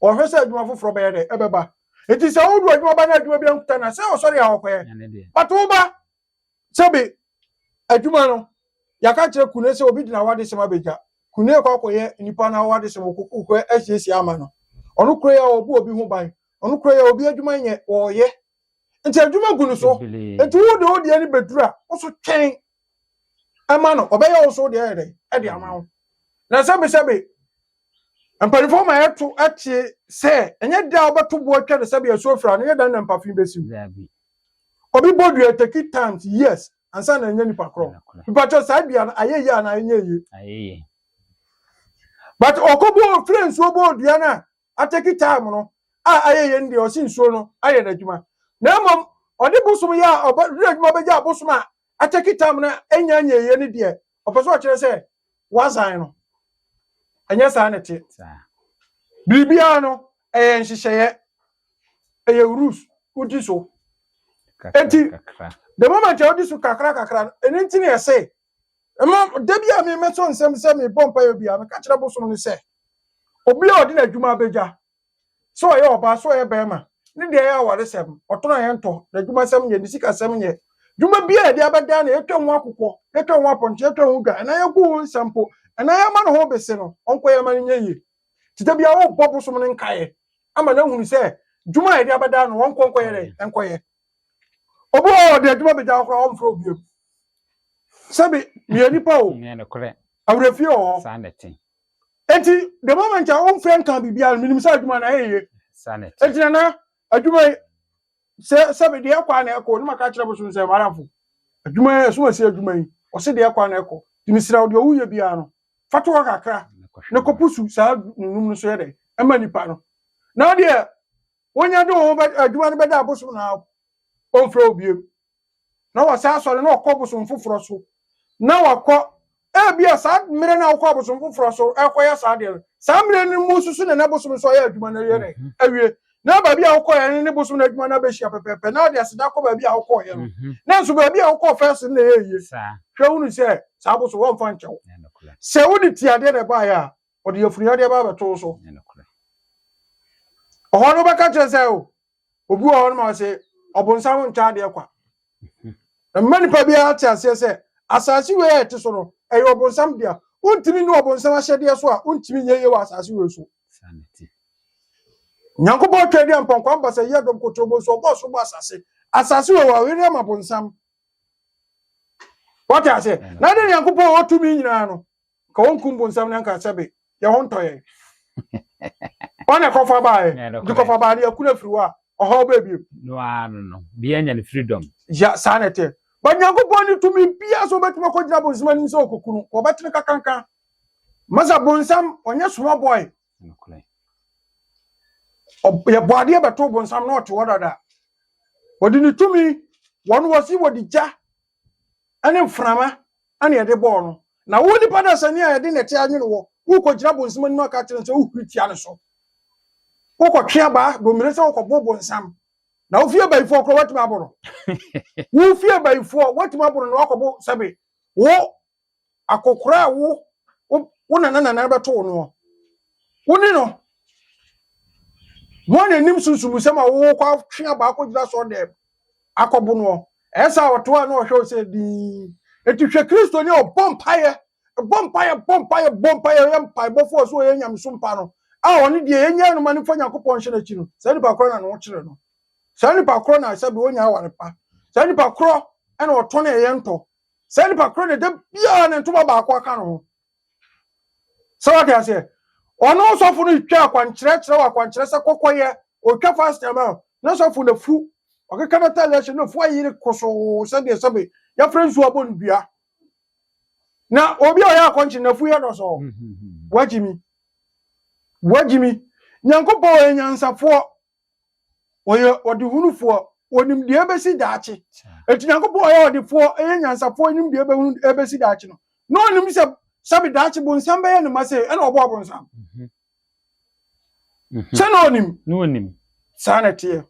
Wɔhwɛ sɛ adwuma foforɔ bɛyɛ dɛ ɛbɛba. Nti sɛ wodu adwuma ba na adwuma bi ankuta na sɛ ɔsɔre a ɔkɔyɛ. But wo ba Sɛbe adwuma no, yɛaka akyerɛ Kune sɛ obi de n'awadesɛm abegya. Kune kɔ akɔyɛ nnipa no awadesɛm wɔ kuku hɔ asiesie ama no. Ɔno kura yɛ a ɔbɔ obi ho ban. Ɔno kura yɛ a obi adwuma nyɛ, ɔreyɛ. Nti adwuma gu no so. Nti wo de wo deɛ no bɛduru a, wo so twɛn ma no. Ɔbɛyɛ wo so deɛ ayɛ dɛn ɛde ama wo. Na sɛbesɛbe mpanimfoɔ ma yɛto ɛteɛ sɛ ɛnyɛ da a wobɛto boɔ atwa no sɛbe asuo fira no, ɛnyɛ da no na mpafe bɛsiw. Obi bɔ dua thirty times years ansa na anya nipa korɔ. Mpakyɛ saa dua no ayɛ yie anaa ɛnyɛ yie? Ayɛ yie. But ɔkɔ bɔ ofire nsuo bɔ dua no a atɛki time no a ayɛ yie no deɛ ɔsi nsuo no ayɛ n'adwuma. Na mmom ɔde bosom yɛ a ɔbɛ adwuma bɛgya abosom a atɛki time no ɛnya nyɛ yie no deɛ ɔpɛ sɛ ɔkyerɛ sɛ wasan no. Ɛnyɛ saa na ɛteɛ. Biribiara no, ɛyɛ nhyehyɛeɛ. Ɛyɛ rules. Wodi so. Enti, the moment a wodi so kakra kakra no, ɛno nti na yɛse, ɛma da bi a me mɛtɔ nsam sɛ mebɔ mpaeɛ bi a, meka kyerɛ bosom no sɛ, obi a ɔde n'adwuma abɛgya, sɛ ɔyɛ ɔbaa sɛ ɔyɛ bɛɛma, ne deɛ ɛyɛ awaresɛm, ɔtɔn a yɛntɔ, n'adwumasɛm yɛ, ne sikasɛm yɛ, dwuma biaa a yɛde abɛdaa no, yɛtwa ho akokɔ, yɛtwa ho apɔnkye, yɛtwa ho dwa, anaa yɛgu ho nsa mpo, anaa yɛma ne ho bese no, ɔnkɔ yɛ mma no nyɛ yie. Nti da biaa wobɔ bosom no nkaeɛ ama no ahunu sɛ dwuma a yɛde abɛdaa no ɔnkɔ nkɔyɛ dɛn? Nkɔyɛ. Obi wɔ hɔ a ɔde adwuma bɛgya hɔ koraa ɔmfrɛ wo biom. Sɛbe meyɛ nipa o,
awerɛfie wɔ hɔ. Enti, the
moment a womfrɛ nka biribiara no, menim sɛ adwuma no ayɛ yie. Enti nana, adwuma yi, sɛ sɛbe deɛ ɛkɔ a na ɛkɔ, na maka kyerɛ bosom sɛ madamfo, adwuma yi, ɛso asi adwuma yi, ɔse deɛ ɛkɔ a na ɛkɔ. Nti mesrɛ wo deɛ woyɛ biara no, fa to hɔ kakra na kɔpusu saa nunum no so yɛ dɛ, ɛma nipa no. Na deɛ wonya de wo ho bɛ adwuma no bɛda abosom no ara, ɔmfrɛ wo biem. na wasan asɔre na wakɔ bosom foforɔ so na wakɔ ebia saa mmerɛ no a wokɔ abosom foforɔ so ɛkɔyɛ saa deɛ no saa mmerɛ no mu nso so na na bosom so ayɛ adwuma no yɛ dɛ mhm. awie na baabi a wokɔɛ no ne bosom no adwuma no abɛhyia pɛpɛpɛ na wode aseda kɔ baabi a wokɔɔyɛ no mhm. na nso baabi a wokɔɔ fɛs no na ɛyɛ yie hwɛ wonu sɛ saa bosom wɔmfa nkyɛ wo sɛ wode tiadeɛ na ɛbaeɛ a ɔde afuniadeɛ ba abɛtoo so ɔhɔ no wobɛka kyerɛ sɛ o obi wɔ hɔ no ma ɔse ɔbonsam ntwa adeɛ kwa mma nipa biara te aseɛ sɛ asase wei a ɛte so no ɛyɛ ɔbonsam dea wontumi ne ɔbonsam ahyɛdeɛ so a wontumi nyɛ yie wɔ asase wei so nyankopɔn atwa adi ampɔnkwa mbasa yi adɔm kotobo nso ɔbɔ so bɔ asase asase wei wɔawere ama bonsam wɔte aseɛ na de nyankopɔn ɔtumi nyinaa no nka wɔnkum bonsam no anka sɛbe yɛ ho ntɔ yɛn ɔne ɛkɔfa baɛ nti kɔfa baa no yɛkunu afiri hɔ a ɔhaw bɛɛ bio no ara no no
bia nya no freedom ya saa na ɛteɛ
ba nyankopɔn ne tumi bia so wobɛtumi akɔgyina bonsam anim sɛ ɔkɔkunu wɔbɛtene kakanka masa bonsam ɔnyɛ small boy yɛbɔ adeɛ bɛto bonsam na ɔte hɔ dada wɔde ne tumi wɔn wɔsi wɔde gya ne mframa na yɛde bɔɔ no, na wo nipa dasani a yɛde nnɛte anwene wo, worekɔgyina bonsam anim aka akyerɛ no sɛ wohuri tia no so. Wokɔtwe abaa domire sɛ wokɔbo bonsam, na wo fie bayifoɔ koraa woatumi abo no. Wo fie bayifoɔ woatumi abo no na woakɔbo sɛbe wo akɔkora a wo wo nana nana bɛto wo no wo ne no wɔn anim sunsumusɛm a wowɔ kɔ atwe abaa kɔgyina sɔɔ dɛm akɔbo no ɛsɛ a ɔto a na ɔhwɛ wo sɛ dii ɛti hwɛ kristoni a ɔbɔ mpaeɛ bɔ mpaeɛ bɔ mpaeɛ bɔ mpaeɛ ɔyɛ mpaebɔfoɔ so ɔyɛ nyameso mpa no a ɔne deɛ yɛnyɛ no ma no fa nyankopɔn hyɛ no akyi no saa nipa korɔ na ne ho kyerɛ no saa nipa korɔ na sɛ bi wɔnya aware pa saa nipa korɔ ɛna ɔtɔ ne ɛyɛ ntɔ saa nipa koro ne da biara ne ntoma baako aka ne ho sɛ wate aseɛ ɔno ɔsɔfo no twa akwankyerɛ kyerɛ wɔ akwankyerɛ sɛ kɔkɔyɛ ɔtwa fast ama na sɔfo na fu ɔkeka no tale ahyɛ na fu ayere kosoo sɛdeɛ sɛbe yɛfrɛ nsuo abɔ no dua na obi a ɔyɛ akɔnkye na fu yɛ no sɔɔ wagyimi wagyimi nyankopɔn ɔyɛ nyansafoɔ wɔyɛ ɔdehunufoɔ wɔnim deɛ ɛbɛsi daakye ɛti nyankopɔn ɔyɛ ɔdefoɔ ɛyɛ nyansafoɔ ɛnim deɛ ɛbɛhunu ɛbɛsi daakye no na ɔnim sɛ sɛbe daakye bonsam bɛyɛ ne ma sei ɛna ɔbɔɔ bonsam mhm. Mhm. sɛ na ɔnim na ɔnim saa na ɛteɛ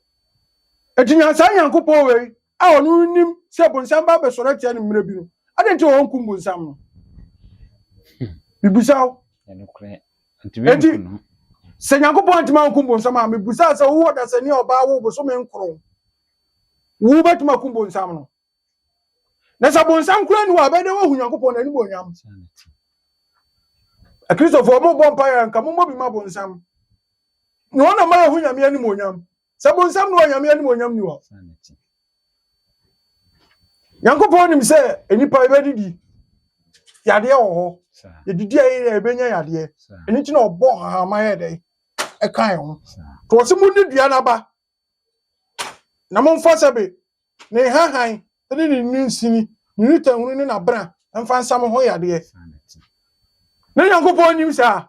ɛti nyansa nyankopɔn wei A Ɔno no nim sɛ bonsam ba abɛsɔre atia no mmerɛ bi no, adɛn nti na ɔnkum bonsam no? Mebisa wo. Enti, sɛ Nyankopɔn antumi ankum bonsam a, mebisa sɛ wowɔ dasani a ɔbaa wo bosome nkron, wobɛtumi akum bonsam no? Na sɛ bonsam koraa ni hɔ a, ɛbɛyɛ dɛ woahu Nyankopɔn n'animuonyam. Akristofoɔ, mommɔ mpaeɛ a nka mommɔ bi ma bonsam. Na wɔn na ma yɛhu Nyame animuonyam. Sɛ bonsam ne wɔ Nyame animuonyam ni hɔ. Nyankopɔn nim sɛ nnipa yɛbɛdidi yadeɛ wɔ hɔ. Yɛdidi a yɛyɛ yɛbɛnya yadeɛ. Ɛno nti na ɔbɔ hahama yɛ dɛn ɛka yɛn ho. To ɔse mo ne dua n'aba na momfa sɛbe ne nhahan ne ne nsini ne ne tanhunu ne n'abena mfa nsa mo ho yadeɛ. Ne Nyankopɔn nim saa.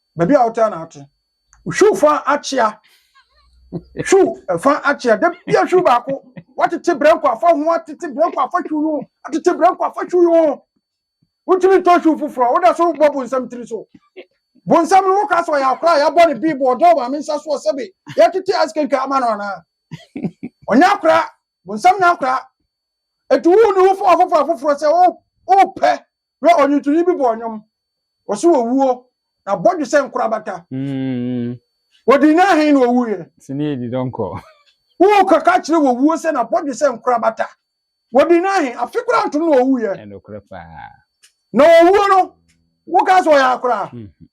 baabi a wotaa na ate. Hwiw fa akyea. Hwiw fa akyea. Da bia hwiw baako. Watete brɛnko afa ho atete brɛnko afa hwiw ho. Atete brɛnko afa hwiw ho. Wontumi ntɔ hwiw foforɔ. Woda so bɔ bonsam tiri so. Bonsam no woka sɛ ɔyɛ akora a yɛabɔ ne biibo ɔdɔ maame nsa soɔ sɛbe yɛtete ice cream ka ama no anaa. Ɔnyɛ akora. Bonsam nyɛ akora. Ɛti wo ne wo fa ɔfoforɔ afoforɔ sɛ wopɛ Hwɛ ɔnwontoni bi bɔɔ nnwom, ɔse wɔwuo, na bɔdwe sɛ nkorabata. Mm. Wɔdii no ahen na ɔwuiɛ. Sini edi dɔnkɔ.
Woo kaka
kyerɛ wɔwuo sɛ na bɔdwe sɛ nkorabata. Wɔdii no ahen, afe koraa ntom na ɔwuiɛ. Ɛnokorɛ paa.
Na
ɔwuo no, wokaa sɛ ɔyɛ akoraa. Mm-hmm.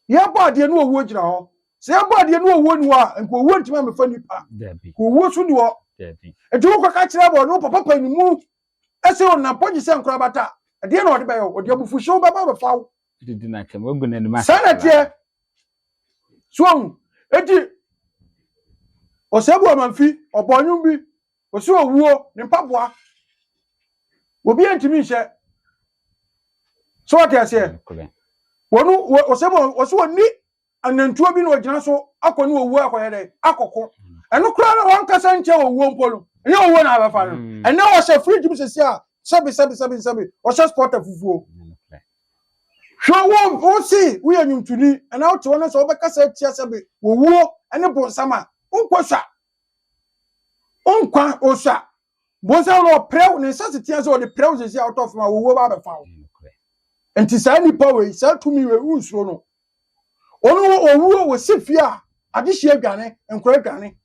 Yɛbɔ adeɛ ne ɔwuo gyina hɔ. Sɛ yɛbɔ adeɛ ne ɔwuo ni hɔ a, nka ɔwuo ntumi amefa nipa. Dabi. Ka ɔwuo so ni hɔ. Dabi. Nti wokɔka kyerɛ bɔ ne wo papa panimu ɛsɛ ɔnam pɔ gye sɛ nkorabata a ɛdeɛ na ɔde bɛyɛ wo ɔde abufuhyew bɛba bɛfa wo didi na kyɛm wagu
n'anim ase saa na teɛ
so ahu eti ɔsɛbu amanfi ɔbɔ nnwom bi ɔsi owuo ne mpaboa obi ntumi nhyɛ so ɔte aseɛ wɔn ɔsɛbu ɔsi wɔn ni Anantuo bi na ɔgyina so akɔ ne owuo akɔyɛ dɛ akɔko ɛno koraa na wankasa nkyɛ owuo mpo no ɛnyɛ owuo na abɛfa no mm. ɛnɛ ɔhyɛ fridge mu sɛsi a sɛbi sɛbi sɛbi nsɛbi ɔhyɛ spɔta fufuo hwɛ wo wosi woyɛ nwomtoni ɛna wote hɔ no sɛ wobɛkasa atia sɛbi owuo ɛne bonsam a wonkɔ sua wonkwa osua Bonsam no ɔpira wo, ne nsaseteɛ sɛ ɔde pira wo sɛsi a wotɔ fam a owuo ba abɛfa wo. Nti saa nipa wei, saa tumi wei, wonsuro no. Ɔno wɔ owuo, wɔsi fie a, adehyeɛ dwane, nkora dwane,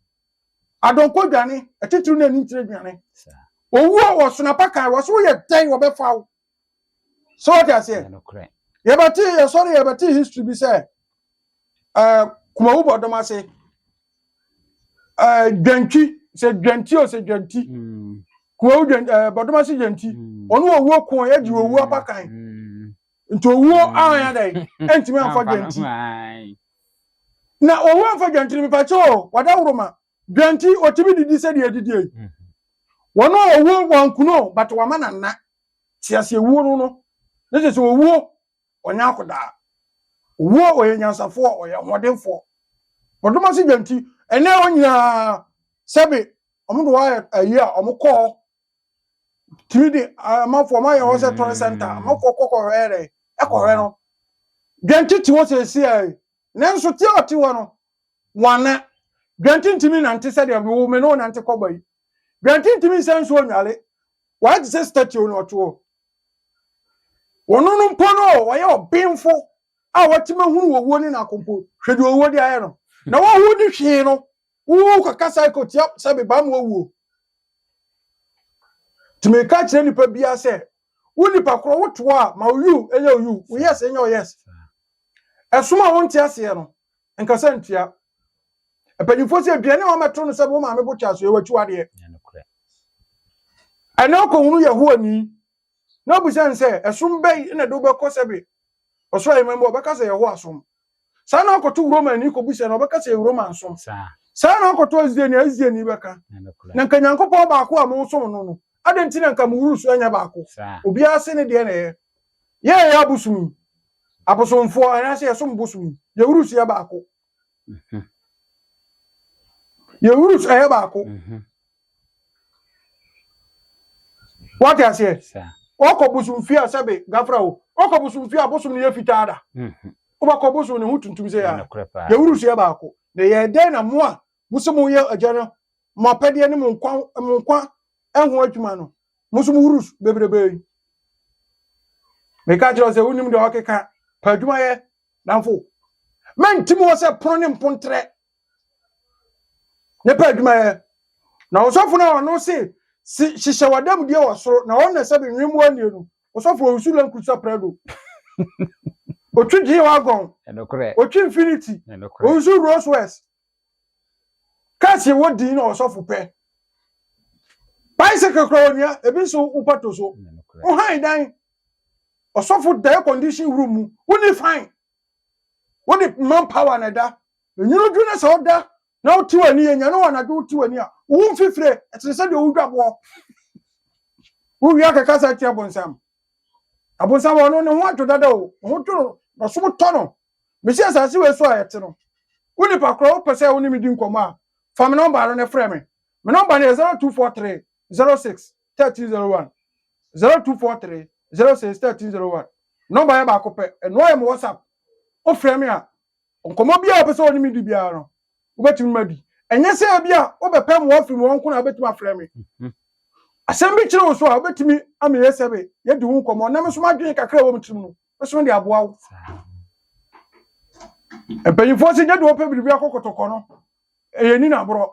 adɔnkɔ dwane, atitiriw ne anintire dwane. Owuo wɔ sonapa kan, wɔso woyɛ dɛn wɔbɛfa wo. so wate aseɛ yɛbɛte yɛsɔre yɛbɛte history bi sɛ eh, kumawu bɔdɔm ase eh, dwantwi sɛ dwanti o sɛ dwanti mm. kumawu eh, bɔdɔm ase dwanti mm. ɔno owuo ko yɛgye owuo mm. apakan nti owuo ahan adɛn ɛntumi amfa dwanti na owuo amfa dwanti no mepakyɛ o wada woroma Dɛn nti otumi didi sɛdeɛ edidie yi? Wɔn a ɔwuo wankuno but wama no nna. Te aseɛ wuo no no ne kyerɛ sɛ owuo ɔnyɛ akodaa. Owuo ɔyɛ nyansafoɔ ɔyɛ ahoɔdenfoɔ. Bɔdom ase dwa nti ɛnɛ hɔ nyinaa sɛbe wɔn de hɔ ayɛ ayi a wɔn kɔ hɔ tumi de amanfoɔ wɔn ayɛ hɔ sɛ tɔre sɛnta amanfoɔ kɔ kɔhwɛ yɛ dɛn ɛkɔhwɛ no. Dɛn nti te hɔ seeseɛ Nanso te a ɔte hɔ no, wanna. Dwante ntumi nnante sɛdeɛ mewoo me na ɔnante kɔba yi. Dwante ntumi nsa nsuo nnwale. Wayɛ te sɛ statio na ɔte hɔ. Ɔno no mpo no, ɔyɛ ɔbenfo a watumi ahunu owuo ne n'ako mpo. Hwɛ deɛ owuo de ayɛ no. Na woahu ne hwee no, wokɔka cycle tia sɛ meba ma owuo. Nti meka kyerɛ nnipa biara sɛ, Wo nipa korɔ wo to hɔ a ma wo yuu nyɛ wo yuu, wo yes nyɛ wo yes. Ɛsom a wonte aseɛ no, nkasa ntua. Mpanyinfoɔ sɛ aduane a wɔmɛto no sɛ wo maame bo kyɛ so yɛ w'akyiwadeɛ. Ɛnɛ ɔkɔhunu Yehowa ni na ɔbisa no sɛ ɛsom bɛn na ɛde wobɛkɔ sɛ be ɔsoro ahemman mu a ɔbɛka sɛ Yehowa som. saa na akɔto romani kɔbisa no ɔbɛka sɛ yɛ roma nsom saa na akɔto asdiani a asdiani bɛka na nka nyankopɔn baako a mosom no no adɛn nti na nka mo wuru so anyɛ baako obiara se ne deɛ na ɛyɛ yɛ yɛyɛ abosom yi abosomfoɔ anaasɛ yɛsom bosom yi yɛ wuru so yɛ baako yɛ wuru so ɛyɛ baako Wate aseɛ? Ɔkɔ bosom fie a sɛbe gafra o. Ɔkɔ bosom fie a bosom no yɛ fitaa da. Wobɛkɔ bosom ne ho tuntum sɛ yɛ a. Yɛwuru so yɛ baako. Na yɛ dɛn na mo a mo sɛ mo yɛ agya no mo apɛdeɛ ne mo nkwa mo nkwa ɛho adwuma no mo nso mo wuru so bebrebe yi. Meka kyerɛ sɛ wonim deɛ ɔkeka pɛ adwuma yɛ damfo. Mɛnti mo hɔ sɛ pono ne mpontrɛ ne pɛ adwumayɛ. Na ɔsɔfo no a ɔno se si hyehyɛ w'adamudie wɔ soro, na ɔno na ɛsɛ be nwemmoa nnie no, ɔsɔfo ɔwusu la nkurusa prɛdo, ɔtwi G-Wagon, ɔtwi Infiniti, ɔwusu Rolls Royce, cars yɛ wɔ din na ɔsɔfo pɛ. Bicycle kora ɔnua, ebi nso wopa to so. Wohan dan, ɔsɔfo da air condition room mu, wonni fine. Wo de man power na ɛda. Nwunu duru na sɛ wo da na wo te w'ani yɛ nyane wɔ anadwo wo te w'ani a wo mfifire ɛtene sɛ deɛ wo dwa boɔ. Wo wia kɛkɛ sɛ ɛte abonsam. Abonsam wɔ no ne ho adwo dada o ho dwo no na so mo tɔ no. Mesi asase wei so a ɛte no. Wo nipa korɔ wo pɛ sɛ wo ne me di nkɔmɔ a fa me nɔmba no ne frɛ me. Me nɔmba no yɛ 0243 06. 1301 0243 06 1301 Nɔmba yɛ baako pɛ, ɛnoa yɛ mo WhatsApp. Wofrɛ me a, nkɔmmɔ biara a wopɛ sɛ wɔne me di biara no, wobɛtumi ma di. Ɛnyɛ sɛ ebi a wobɛpɛ mmoa afiri mu hɔ nko na wobɛtumi afrɛ me. Asɛm bi kyere wo so a, wobɛtumi ama yɛsɛ me, yɛadi ho nkɔmmɔ na me nso m'adwene kakra a ɛwɔ me tirim no, ɛsono de aboa wo mpanyinfoɔ si gye de wɔpɛ biribi akɔ kɔtɔkɔ no ɛyɛ ni na aborɔ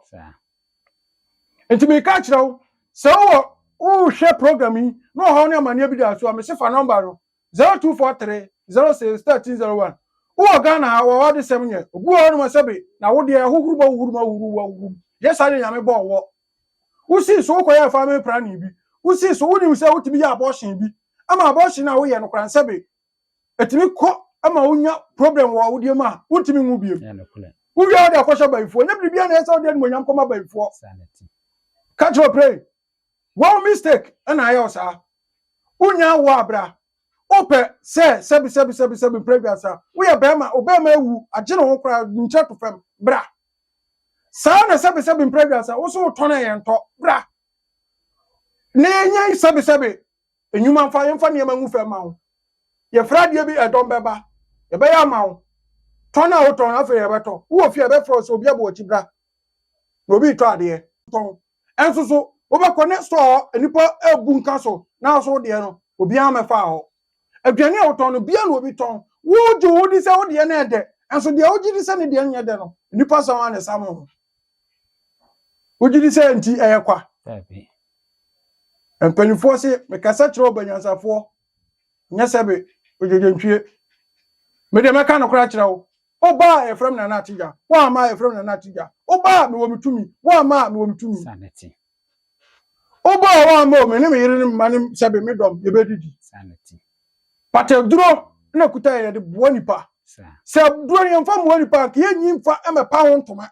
nti meka akyerɛ wo sɛ wowɔ wohwɛ program yi na ɔhaw ne amanneɛ bi da so a mese fa nɔmba no 0243 06 1301 wowɔ ghana ha wɔwɔ adesɛm nyɛ obi wɔ hɔ nom sɛbe na wodeɛ ahohuru bɔ wohuru ma wohuru wɔ wohuru yɛ saa deɛ nyame bɔɔ wɔ Wosii so wokɔyɛɛ family planning bi. Wosii so wonim sɛ wotumi yɛ abortion bi ma abortion a woyɛ no koraa nsɛbe ɛtumi kɔ ma wonya problem wɔ awodeɛ mu a wontumi nwo biom. Wowie a wode akɔhyɛ bayifoɔ. Ɛnyɛ biribiara na ɛyɛ sɛ wode animuonyam kɔma bayifoɔ. Ka kyerɛ play wɔn mistake na ayɛ wo saa. Wonya awoɔ a bra. Wopɛ sɛ sɛbi sɛbi sɛbi sɛbi mprɛ aduasa. Woyɛ barima obarima awu agye ne ho koraa nkyerɛ to fam bra. Saa na sɛbesɛbe mprɛdwa sɛ wo so wotɔn a yɛntɔ. Bra na yɛnyɛ sɛbesɛbe nnwuma mfa yɛmfa nneɛma ngu fam ma wo. Yɛfrɛ adeɛ bi ɛdɔm bɛba. Yɛbɛyɛ ama wo. Tɔn a wotɔn no afei yɛbɛtɔ. Wowɔ fie a yɛbɛfrɛ wo sɛ obi abɔ w'akyi bra na obi retɔ adeɛ. Tɔn. Ɛnso so wobɛkɔ ne store hɔ nnipa rebu nka so nanso wo deɛ no obiara mmɛfaa hɔ. Aduane a wotɔn no, bia na obi tɔn. Wogye wo di sɛ wo deɛ no yɛ dɛ, nanso deɛ wogye di sɛ ne deɛ nyɛ dɛ no, nnipa sa ara na ɛsa mo ho. Wogye di sɛ nti ɛyɛ kwa. Mpanimfoɔ se, mekasa kyerɛ ɔbanyansafoɔ, nyɛ sɛ be ogyegyentwie. Me deɛ mɛka nokorɛ akyerɛ wo. Woba a, yɛfrɛ me Nana Atigya. Woamma a, yɛfrɛ me Nana Atigya. Woba a, mewɔ me tumi. Woamma a, mewɔ me tumi. Wobɔ a woammɔ o, me ne me yere ne me mma ne sɛbe me dɔm yɛbɛdidi.
But aduro
na ɛkuta yɛn yɛde boa nipa. Sɛ aduro no yɛmfa mmoa nipa anka yɛnyi mfa mmɛpa ho ntoma.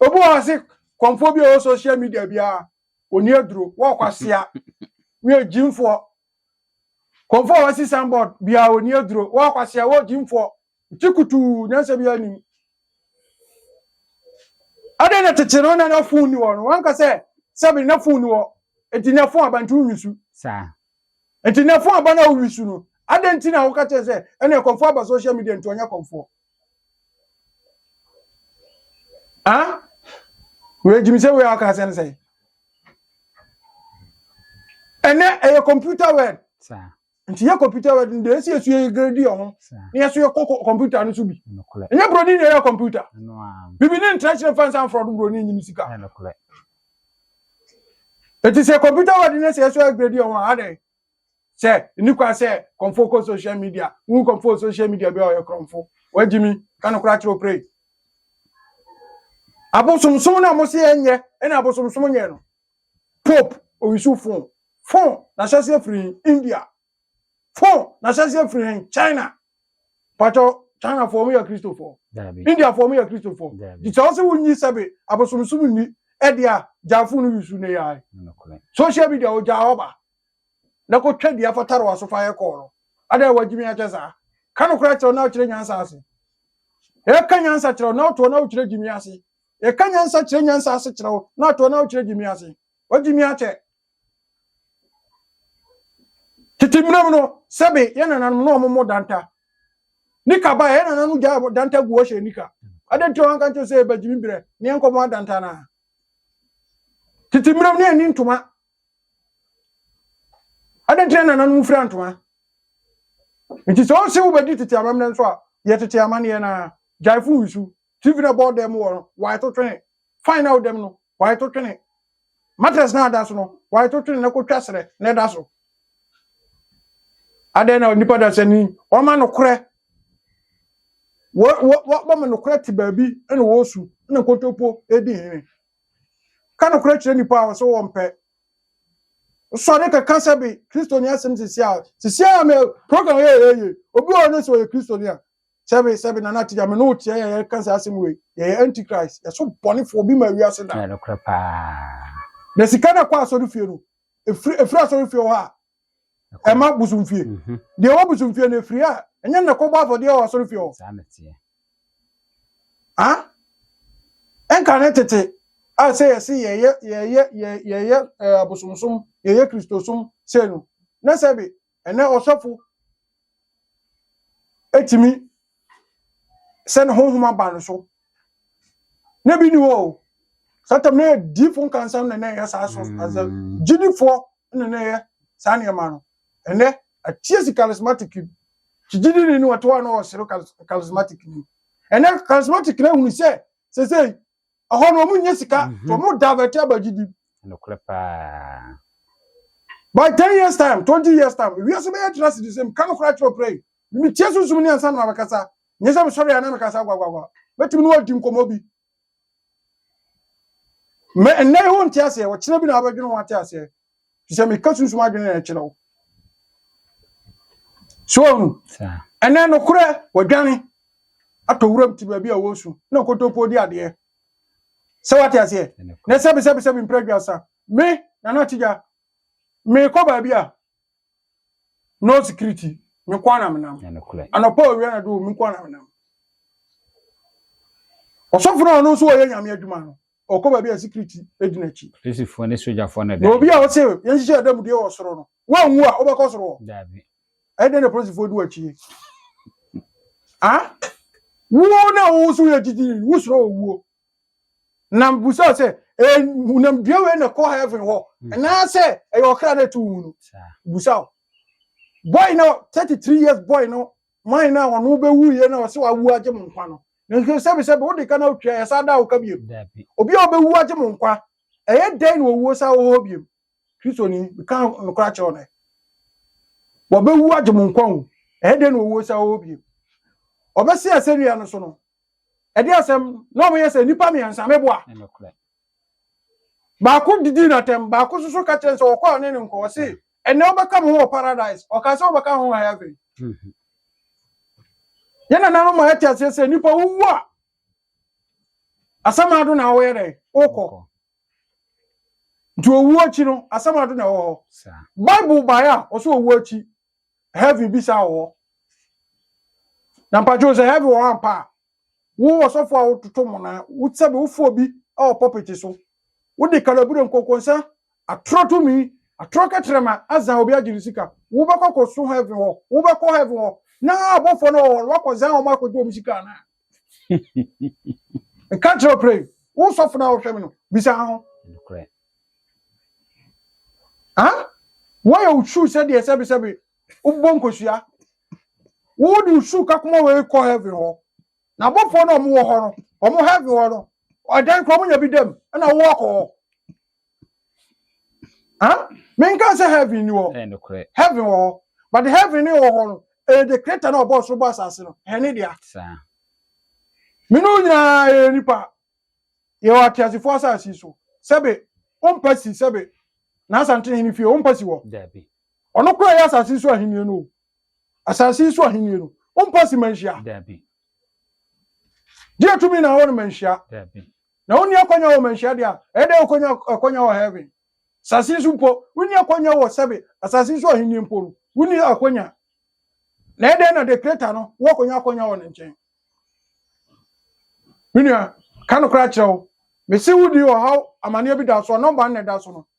Obi wɔ ase kɔmfoɔ bi a ɛwɔ social media biara ɔni aduro wɔkwasea wɔ agyimfoɔ. Kɔmfoɔ a wɔasi sanbɔd biara ɔni aduro wɔkwasea wɔ agyimfoɔ. Nti kutuu nyansa biara nim. Adɛn na tete no na na fon ni hɔ no wanka sɛ sɛbi na fon ni hɔ nti na fon aba nti wowi su. Saa.
Nti na fon
aba na wowi su no adɛn nti na woka kyerɛ sɛ ɛna ɛkɔmfoɔ aba social media nti ɔnyɛ kɔmfoɔ. Ah? Wei gyimi sɛ wei a ɔka asɛ no sɛ ɛnɛ ɛyɛ computer word. Saa. nti yɛ
computer
word no deɛ ɛsɛ yɛ so yɛ grade yɛ ho na yɛ so yɛ kɔ computer no so bi ɛnyɛ buroni na ɛyɛ computer bibi ne ntra kyerɛ fansa nfrɔ do buroni nyim sika ɛti sɛ computer word no sɛ yɛ so yɛ grade yɛ ho a adɛn sɛ nni kwan sɛ kɔmfo kɔ social media wu kɔmfo social media bi a ɔyɛ kɔmfo wagyi mi ka no kora kyerɛ opere abosomsom na mo se ɛnyɛ ɛna abosomsom nyɛ no Pope Owisu Fo Fo N'ahyɛseɛ firi he? India Fo N'ahyɛseɛ firi he? China Pakyɛ Chinafoɔ ɔmo yɛ Kristofoɔ? Daabi Indiafoɔ ɔmo yɛ Kristofoɔ? Daabi Nti sɛ ɔse wonyi sɛ be abosomsom nni ɛdeɛ a gyaa fon no wisu ne yae Nokorɛ Social media ogyaa hɔ ba na kɔ twa dua fa tare w'aso fa yɛ kɔɔ no Adɛn wagyimi akyɛ saa? Ka nokorɛ kyerɛ wo na wokyerɛ nyansa ase Yɛka nyansa kyerɛ wo na wotoɔ na wokyerɛ gyimi ase Yɛka nyansa kyerɛ nyansa ase kyerɛ wo na atɔ na wokyerɛ gyimi ase. Wogyimi akyɛ. Tete mmerɛ mu no, sɛbe yɛ nananom na wɔmmɔ danta. Nika ba yɛ nananom gyaa danta gu wɔhyɛ nika. Adɛn nti wɔanka nkyerɛ sɛ yɛba gyimi berɛ na yɛnkɔmmɔ adanta no a? Tete mmerɛ mu na yɛnni ntoma. Adɛn nti na nananom fira ntoma? Nti sɛ wose wobɛdi tete amammerɛ nso a, yɛ tete amanneɛ no ara. Gyae fo wusu. TV na ɛbɔ dan mu hɔ no, wae to twene. Fan na ɛwɔ dan mu no, wae to twene. Mattress na ada so no, wae to twene na kotwa serɛ na ɛda so. Adɛn na nipa dasani wɔma nokorɛ wɔma nokorɛ te baabi na wɔsu na nkontompo di hene. Ka nokorɛ kyerɛ nipa a wɔsɛ wɔmpɛ. Sɔre kɛka sɛ bi Kristoni asɛm sisi a sisi a me program yɛ yɛ yɛ obi wɔ ne sɛ ɔyɛ Kristoni a sɛbe sɛbe nana tigya me ne wo teɛ yɛyɛ ka saa asɛm wei yɛyɛ antichrist yɛso bɔnefoɔ bi ma wiase da ɛyɛ nokorɛ paa
na sika
no ɛkɔ asɔre fie no ɛfiri ɛfiri asɔre fie hɔ a Ɛkɔ- ɛma bosomfie Mhm. deɛ ɛwɔ bosomfie no ɛfiri a ɛnyɛ na kɔbɔ afɔdeɛ wɔ asɔre fie hɔ saa na teɛ
Ah?
ɛnka ne tete a sɛ yɛse yɛyɛ yɛyɛ yɛ- yɛyɛ eh, abosomsom yɛyɛ kristosom sei no na sɛ be Ɛnnɛ ɔsɔfo tumi sɛ ne honhom aba no so. Na bi ni hɔ o. Saa tam na yɛ diifo nkansam na na ɛyɛ saa so asɛ gyidifoɔ na na ɛyɛ saa nneɛma no. Ɛnnɛ atie si charismatic ti gyidini ne wɔte hɔ a na wɔsere charismatic ni. Ɛnnɛ charismatic na ehunu sɛ sesei Ɛhɔ no wɔn nyɛ sika, mm-hmm. so wɔn divert aba gyidi. Nokorɛ paa. By ten years time, twenty years time, wiase bɛyɛ tena si de sɛ meka nokorɛ akyerɛ ɔkra yi. Metie sunsum ne ansa na mabɛkasa. Nyɛ sɛ mesɔre a na mekasa gwagwagwa. Mɛtumi ne wɔadi nkɔmmɔ bi. Mɛ ɛnnɛ yi ho nte aseɛ, ɔkyena bi na wabɛdwene ho ate aseɛ. te sɛ meka sunsum adwene na ɛkyerɛ wo so ɔhu ɛnɛ nokorɛ wɔdwane atɔ wuram te baabi a wɔsu na nkotopo di adeɛ sɛ wate aseɛ na sɛbesɛbesɛbe mprɛ dwasa me nana atigya mekɔ baabi a no security me nko ana menam anɔpa owia na do me nko ana menam ɔsɔfo no a ɔno nso wɔyɛ nyame adwuma no ɔkɔ baabi a sikiriti di n'akyi. Polisifoɔ ne sogyafoɔ
na ɛda. Na obi a ɔte yɛnhyehyɛ
adanmudie wɔ soro no, wanwu a wobɛkɔ soro wɔ? Daabi.
Ɛyɛ dɛn na polisifoɔ
di w'akyi yi? a wo na wo so yɛ gyigyi wo soro owuo na busa sɛ nam dua wei na kɔ heaven hɔ anaasɛ ɛyɛ ɔkra na ɛto wo mu no busa o boy no 33 years boy no man no a wɔn ho bɛwu yie na wɔsɛ wɔawu agye mo nkwa no. Nanso sɛbisɛbi wode ka na wotwa yɛ saa da a woka biom. Obi a ɔbɛwu agye mo nkwa, ɛyɛ dɛn na owuo san wɔ hɔ biom? Kristoni, meka nokorɛ akyerɛ wo nɛ. Wɔbɛwu agye mo nkwa o, ɛyɛ dɛn na owuo san wɔ hɔ biom? Ɔbɛsi asɛnnua no so no, ɛde asɛm na wɔyɛ sɛ nnipa mmiɛnsa meboa. Baako didi no atɛm, baako nso so ka kyerɛ no sɛ ɔkɔ a ɔne no nkɔ. Ɔse, ɛnnɛ wobɛka me ho wɔ paradise. Ɔka sɛ, wobɛka me ho wɔ heaven. Yɛn nananom ma yɛte aseɛ sɛ nipa wowu a, asamado na woyɛ dɛn? Wokɔ. Nti owuo akyi no, asamado na ɛwɔ hɔ. Bible baeɛ a, ɔsɛ owuo akyi, heaven bi saa wɔ hɔ na mpakyɛw sɛ heaven wɔ hɔ ampa a wo ɔsɔfo a wototo mo na wosɛ bi wofo bi wɔ pɔpɛti so wode kalabure nkɔnkɔnsa atorɔ tumi atorɔ kɛtrɛma azan obi agye ne sika wobɛkɔ kɔso heaven hɔ wobɛkɔ heaven hɔ na abɔfoɔ no wɔ hɔ wakɔzan wɔn akɔgye wɔn sika anaa ɛka kyerɛ ɔpere wo sɔfo no a wohwɛ me no bisa ho woayɛ wo suu sɛdeɛ sɛbesɛbe wobɔ nkosua wode wo suu kakoma wei kɔ heaven hɔ na abɔfoɔ no ɔmo wɔ hɔ no ɔmo heaven hɔ no ɔdan kora ɔmo nya bi dam ɛna wowɔ kɔ hɔ Ah, menka sɛ heaven ni hɔ. Heaven wɔ hɔ. But heaven ne wɔ hɔ no, ɛyɛ the creator na ɔbɔ soro bɔ asase no. Ɛyɛ ne dea. Me ne wo nyinaa yɛyɛ nipa. Yɛwɔ ateasefo asase so. Sɛbe, wompɛ si sɛbe. N'asante hene fie, wompɛ si hɔ. Ɔno
kora yɛ asase
so ahenni no. Asase yi so ahenni no, wompa si manhyia. Dabi. Deɛ tumi na awɔ no manhyia. Dabi. Na
wonni akwanya wɔ
manhyia deɛ a, ɛyɛ dɛ wokonya akwanya wɔ heaven. Asase yi so mpo, wonni akwanya wɔ sɛbe asase yi so ahenni mpo no, wonni akwanya. Na ɛyɛ dɛ na the creator no woakonya akwanya wɔ ne nkyɛn. Me nua, ka no koraa kyerɛ wo. Mese wodi ɔhaw amaneɛ bi da so a, nɔmba nna ɛda so no,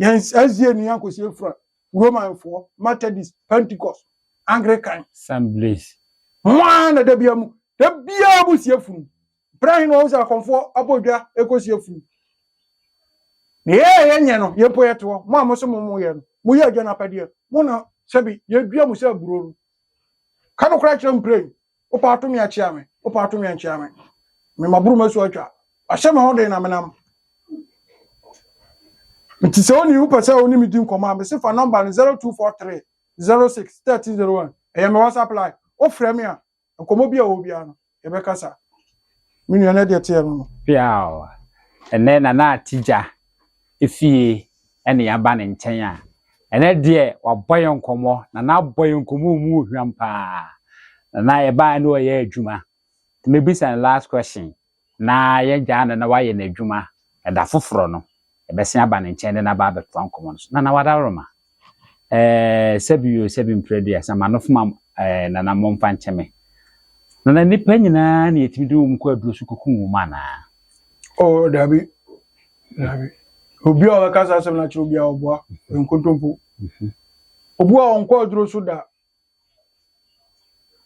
Yɛn SDA nua Kossie fra Romanfoɔ, Methodist, Pentecost, Anglican. Assemblies.
Mo ara na
da biara mu, da biara mo sie funu. Berɛ he na wɔn sɛ akɔmfoɔ abɔ dwa ɛkɔ sie funu. Na yɛ yɛ nyɛ no, yɛ mpo yɛ te hɔ. Mo a mo se mo mo yɛ no, mo yɛ agya no apɛdeɛ. Mo na sɛbi yɛ dua mo sɛ aburo no. Ka no korɛ kyerɛ mprɛn. Wopa ato me akyea me, wopa ato me ankyea me. Me maboro m'asu atwa, wahyɛ me ho den na menam. Nti sɛ onii wopɛ sɛ wone me di nkɔmmɔ a, mese fa nɔmba no 0243 06 1301. Ɛyɛ me WhatsApp line. Wofrɛ me a, nkɔmmɔ bi a ɛwɔ biara no, yɛbɛkasa. Me nua na deɛ teɛ no no. Piaw!
Ɛnɛ Nana Atija fie na yɛaba ne nkyɛn a, ɛnɛ deɛ wabɔ yɛn nkɔmmɔ. Nana abɔ yɛn nkɔmmɔ a emu hwam paa. Nana yɛbaeɛ na ɔreyɛ adwuma. Nti mɛbisa no last question na yɛagyaa no na wayɛ n'adwuma ɛda foforɔ no. yɛbɛsen aba ne nkyɛn de no aba abɛtoa nkɔmmɔ no so. Nana Wadaroma, eh, sɛbi yo, sɛbi mprɛduasa, ma no foma eh, nana mmɔ mfa nkyɛ me. Nana nnipa nyinaa na yɛtumi de wɔn kɔ aduro so kɔkum wɔn anaa? O, oh,
dabi, dabi. Obi a ɔbɛka saa asɛm no akyerɛ obi a ɔboa, nkontompo. Mhm. Obu a ɔnkɔ aduro so da,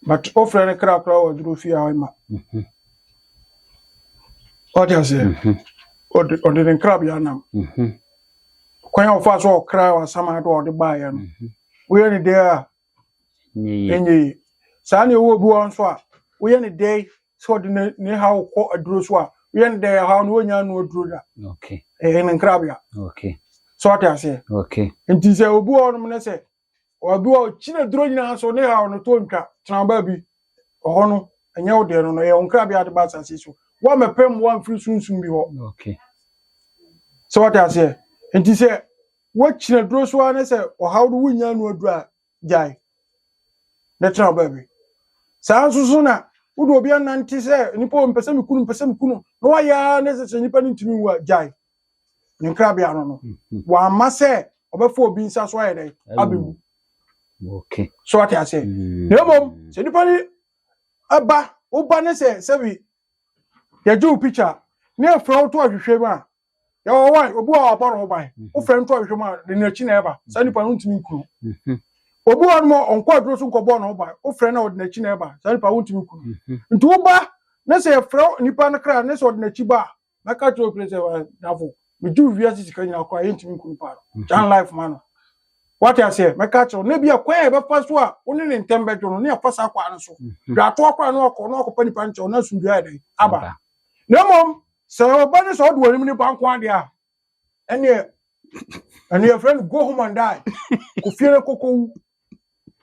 but wofrɛ no kra koraa wɔ duro fie a ɔma ɔde aseɛ ɔde ne nkrabea nam kwan a ɔfa so ɔkra wasama do a ɔde baeɛ no woyɛ ne dɛn a ɛnyɛ yi saa ne ɛwɔ bi wɔ nso a woyɛ ne dɛn sɛ ɔde ne ha wokɔ aduro so a woyɛ ne dɛn ɛhaw no wɔnya no aduro da ɛyɛ ne nkrabea sɛ
ɔde
aseɛ nti sɛ
obi wɔ
nom ne sɛ Ɔdo a ɔkyiri aduro nyinaa so ne haw no to ntwa tena baabi. Ɛhɔ no, ɛnyɛ wo deɛ no no, ɛyɛ wo nkrabea de ba asase so. Woammɛpɛ mmoa mfiri sunsum bi hɔ. Okay. Sɛ wate aseɛ. Nti sɛ woakyiri aduro so ara ne sɛ ɔhaw no wonnya ano aduro a, gyae na tena wo baabi. Saa nso so na wode obi anante sɛ nnipa ɔmpɛ sɛ mekunu mpɛ sɛ mekunu na wayɛ ara ne sɛ sɛ nnipa no ntumi nwu a, gyae. ne nkrabea no no mhm. wamma sɛ ɔbɛfa obi nsa so ayɛ dɛn abɛwu so wate aseɛ
mm.
na mmom sɛ nipa no ɛba woba ne sɛ sɛbi yɛgye wo picture ne ɛfrɛ wo to ahwehwɛ mu a yɛwɔ wa obi a wabɔ ne ho ban mhm. wofrɛ no to ahwehwɛ mu a ne n'akyi na ɛba saa nipa no ntumi nkunu mhm. obi wɔ nom ɔnkɔ aduro so nkɔbɔ ne ho ban wofrɛ no ɔde n'akyi na ɛba saa nipa wontumi nkunu nti woba ne sɛ yɛfrɛ nipa no kra ne sɛ ɔde n'akyi ba a na ka kyerɛ obi sɛ wa dafo megye wo wiase sika nyinaa koraa yɛntumi nkɔ nipa no mhm. gyan life ma no wate aseɛ mɛka kyerɛ wo na bi a kwan a ɛbɛfa so a wo ne ne ntɛm bɛdwo no ne afa saa kwan no so mhm. dwatoa kora na wakɔ na wakɔpɛ nipa no kyɛw na asomdua yɛ dɛn aba na mmom sɛ ɔba ne sɛ ɔde wɔn anim ne ba nko adeɛ a ɛneɛ ɛneɛ frɛ no go home and die kofie no kɔkɔwu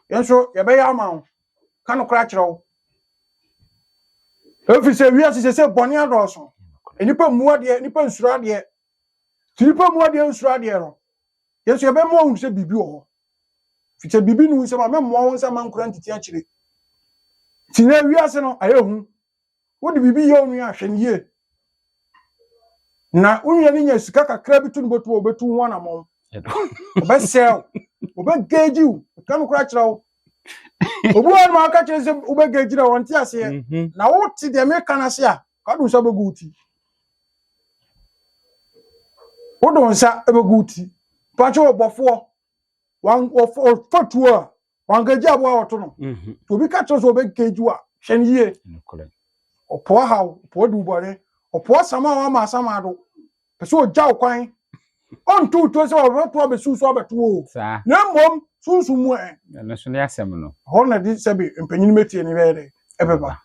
yɛn nso yɛbɛyɛ ama wo ka nokorɛ akyerɛ wo ɛfiri sɛ wiase sɛ sɛ bɔne adɔɔso nnipa mmu adeɛ nnipa nsuro adeɛ nti nnipa mmu adeɛ nsuro adeɛ no yɛn nso yɛbɛma ɔhu sɛ biribi wɔ hɔ firi sɛ biribi ne hu sɛ ma memmoa wo nsa ma nkora ntiti akyire nti na wiase no ayɛ hu wode biribi yɛ onua a, hwɛ no yie. Na wo nua no nya sika kakra bi to no bɔtom a, ɔbɛtu ho anammɔn. Ɔbɛsɛe wo. Ɔbɛgage wo. Ɛka no koraa kyerɛ wo. Obi wɔ hɔ nom a woka kyerɛ no sɛ wobɛgage no a, ɔnte aseɛ. Mhm. Na wote deɛ meka no ase a, wode wo nsa bɛgu wo ti. Wode wo nsa bɛgu wo ti. Mpakyɛ ɔbɔfoɔ, wan- ɔf- ɔfatuo a, wankagye aboa wɔto no mhm. nti obi ka kyerɛ sɛ ɔbɛkagyi a hwɛ no yie ɔpoa haw ɔpoa duwubɔne ɔpoa sama a wama asama ado pɛ sɛ ɔgya wo kwan ɔnto wo tuo sɛ ɔbɛto abɛsiw so abɛto o na mmom sunsum mu ɛ ɛno so ne asɛm no
hɔ na de sɛbe
mpanyin mɛtie ne bɛyɛ dɛ ɛbɛba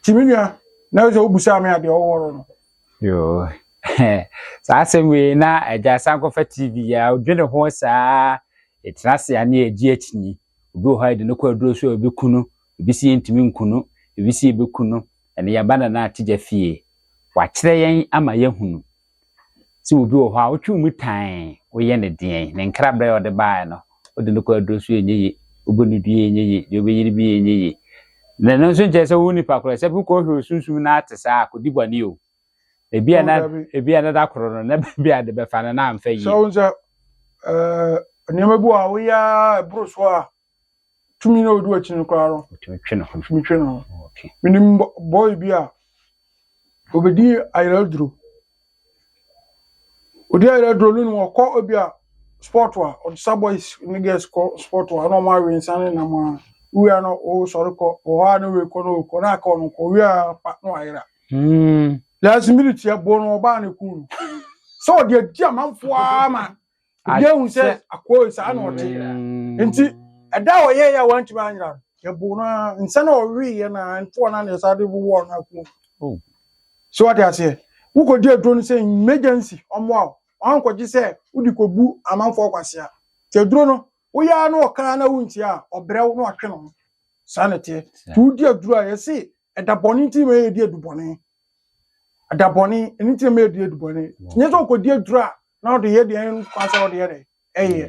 nti me nua na sɛ wobusaa me adeɛ ɔwɔrɔ no Yoo
saa asɛm wei na agya san kɔfa TV a odwene ho saa ɛtena ase a ne ɛgye akyinyi obi wɔ hɔ a yɛde no kɔ aduro so a obi kunu ebi si yɛntumi nkunu ebi si ebi kunu ɛne yɛba na na ategya fie wakyerɛ yɛn ama yɛhunu sɛ obi wɔ hɔ a wotwe mu tan woyɛ ne deɛn ne nkrabrɛ a ɔde baeɛ no wode no kɔ aduro so yɛ nyɛ ye wobɔ no dua yɛ nyɛ ye deɛ wobɛyere bi yɛ nyɛ ye na ɛno nso nkyerɛ sɛ wo nipa korɔ sɛ bikɔ hwɛ osunsum no ate saa akɔdi bɔne o ebi a na ebi a na da korɔ no na bi a de bɛfa no na amfa yie sɛ wo
sɛ nneɛma bi wɔ a woyɛ a ɛboro so a tumi na ɔdi wakyi no koraa no tumi twe ne ho tumi twe ne ho menim
bɔy
bi a obɛdi ayerɛ aduro Ɔdi ayɛdrɔ no na ɔkɔ ebi a spɔt a ɔde sa bɔys ne gɛls kɔ spɔt a na ɔmo awe nsa ne nam a owie a na ɔsɔre kɔ ɔhɔ a na ɔkɔ na ɔkɔ na aka ɔno nko owie a pa na wayera. Last minute yɛboo no ɔbaa ne kuu no sɛ ɔde adi amanfoɔ ara ma obi ahu sɛ akoa yi saa na ɔte nti ɛda a ɔyɛ yɛ a wantumi anyera no yɛbo no ara nsa na ɔweeɛ no ara ntoɔ no na yɛsa de wowɔ no akuo oh.
sɛ wate
aseɛ wokɔdi aduro no sɛ emergency ɔmmoa wo wankɔgye sɛ wode kɔbu amanfoɔ kwasea nti aduro no woyɛ ara na ɔkaa na wontie a ɔbrɛ wo na ɔtwe no ho saa na ɛteɛ nti wodi aduro a yɛse ɛda bɔne nti ma yɛdi adubɔne ɛda bɔne ɛno nti ma yɛdi adubɔne nyɛ sɛ ɔkɔdi aduro a na ɔde yɛ deɛ nkwa sɛ ɔde yɛ dɛ ɛyɛ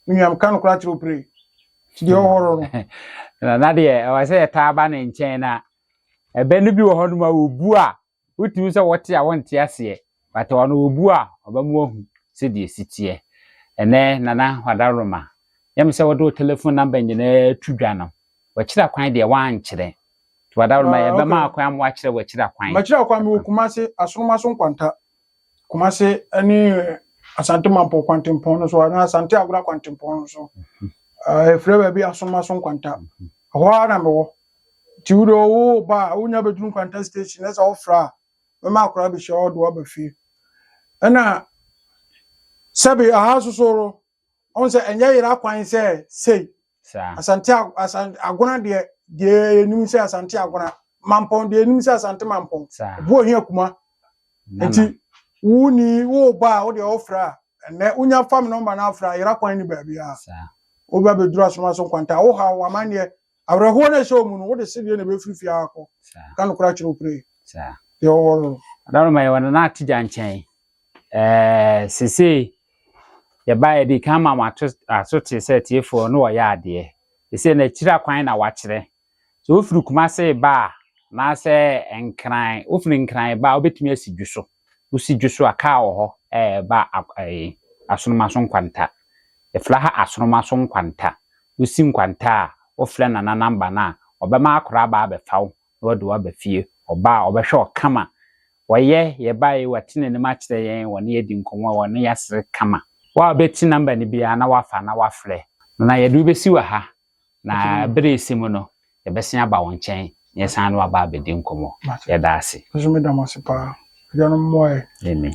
nnuam ka no koraa kyerɛ opere deɛ ɔhɔrɔ no na deɛ ɛwɔ sɛ
yɛtaa ba ne nkyɛn na ɛbɛ no bi wɔ hɔ nom a wɔbu a Wotumi sɛ wɔte a wɔnte aseɛ but ɔno wɔbu a ɔba mu ahu sɛdeɛ ɛsi teɛ. Ɛnɛ Nana Hwada Roma yɛ me sɛ wode wo telephone number nyinaa to dwa no. W'akyira kwan deɛ woankyerɛ nti Hwada Roma yɛbɛma wo kwan ama woakyerɛ w'akyira kwan. M'akyira kwan mewɔ Kumase,
Asoroma so Nkwanta. Kumase ne Asante Mampɔn kwantempɔn no so anaa Asante Agora kwantempɔn no so. Ɛfrɛ baabi Asomaso Nkwanta. Ɛhɔ ara na mewɔ. Nti wo deɛ wo ba a, wonya bɛduru Nkwanta station na sɛ wofrɛ a, mɛma akwadaa abɛhyia wo de wo aba fie. Ɛna sɛbe aha nso so no, ɔn sɛ ɛnyɛ yera kwan sɛ sei asante agona deɛ deɛ yɛnim sɛ asante agona mampɔn deɛ yɛnim sɛ asante mampɔn ɛbu ohia kuma nti wo ni wo ba a wo deɛ wofrɛ a ɛnɛ wonya fam nɔmba no afrɛ a yera kwan ne baabi a wobɛ bɛduru asoma so nkwanta wo ha wo amanneɛ Awerɛhoɔ no a ɛhyɛ wo mu no, wode sedeɛ na ɛbɛfiri fie ha akɔ. Ka nokorɛ akyerɛ wo pire. Deɛ ɔwɔ no. Adanoma yɛwɔ Nana
Atigya nkyɛn. Ɛɛ sesei yɛba yɛde kan ma mo ato aso te sɛ tiefoɔ no wɔyɛ adeɛ. Sesei na akyiri akwan na wakyerɛ. Sɛ wofiri Kumase ba a anaasɛ Nkran, wofiri Nkran ba a wobɛtumi asi Dwoso. Wosi dwo so a, kaa wɔ hɔ ba asoroma so nkwanta. Yɛfrɛ ha asoroma so nkwanta. Wosi nkwanta a, wofrɛ Nana number no a, ɔbɛma akora aba abɛfa wo na wɔde wo aba fie. Ɔba a, ɔbɛhwɛ wo kama. Wɔyɛ, yɛbaeɛ yi, wate n'anim akyerɛ yɛn, wɔne yɛadi nkɔmmɔ, wɔne yɛasere kama. Wo a wobɛte number no biara na woafa na woafrɛ no na yɛde wo bɛsi wɔ ha Na bere resi mu no, yɛbɛsan aba wo nkyɛn na yɛsan ne wo aba abɛdi
nkɔmmɔ.
Yɛda
ase.
Nso
meda
mo
ase
paa.
Agyanom
mmoa
yɛn.
Amen.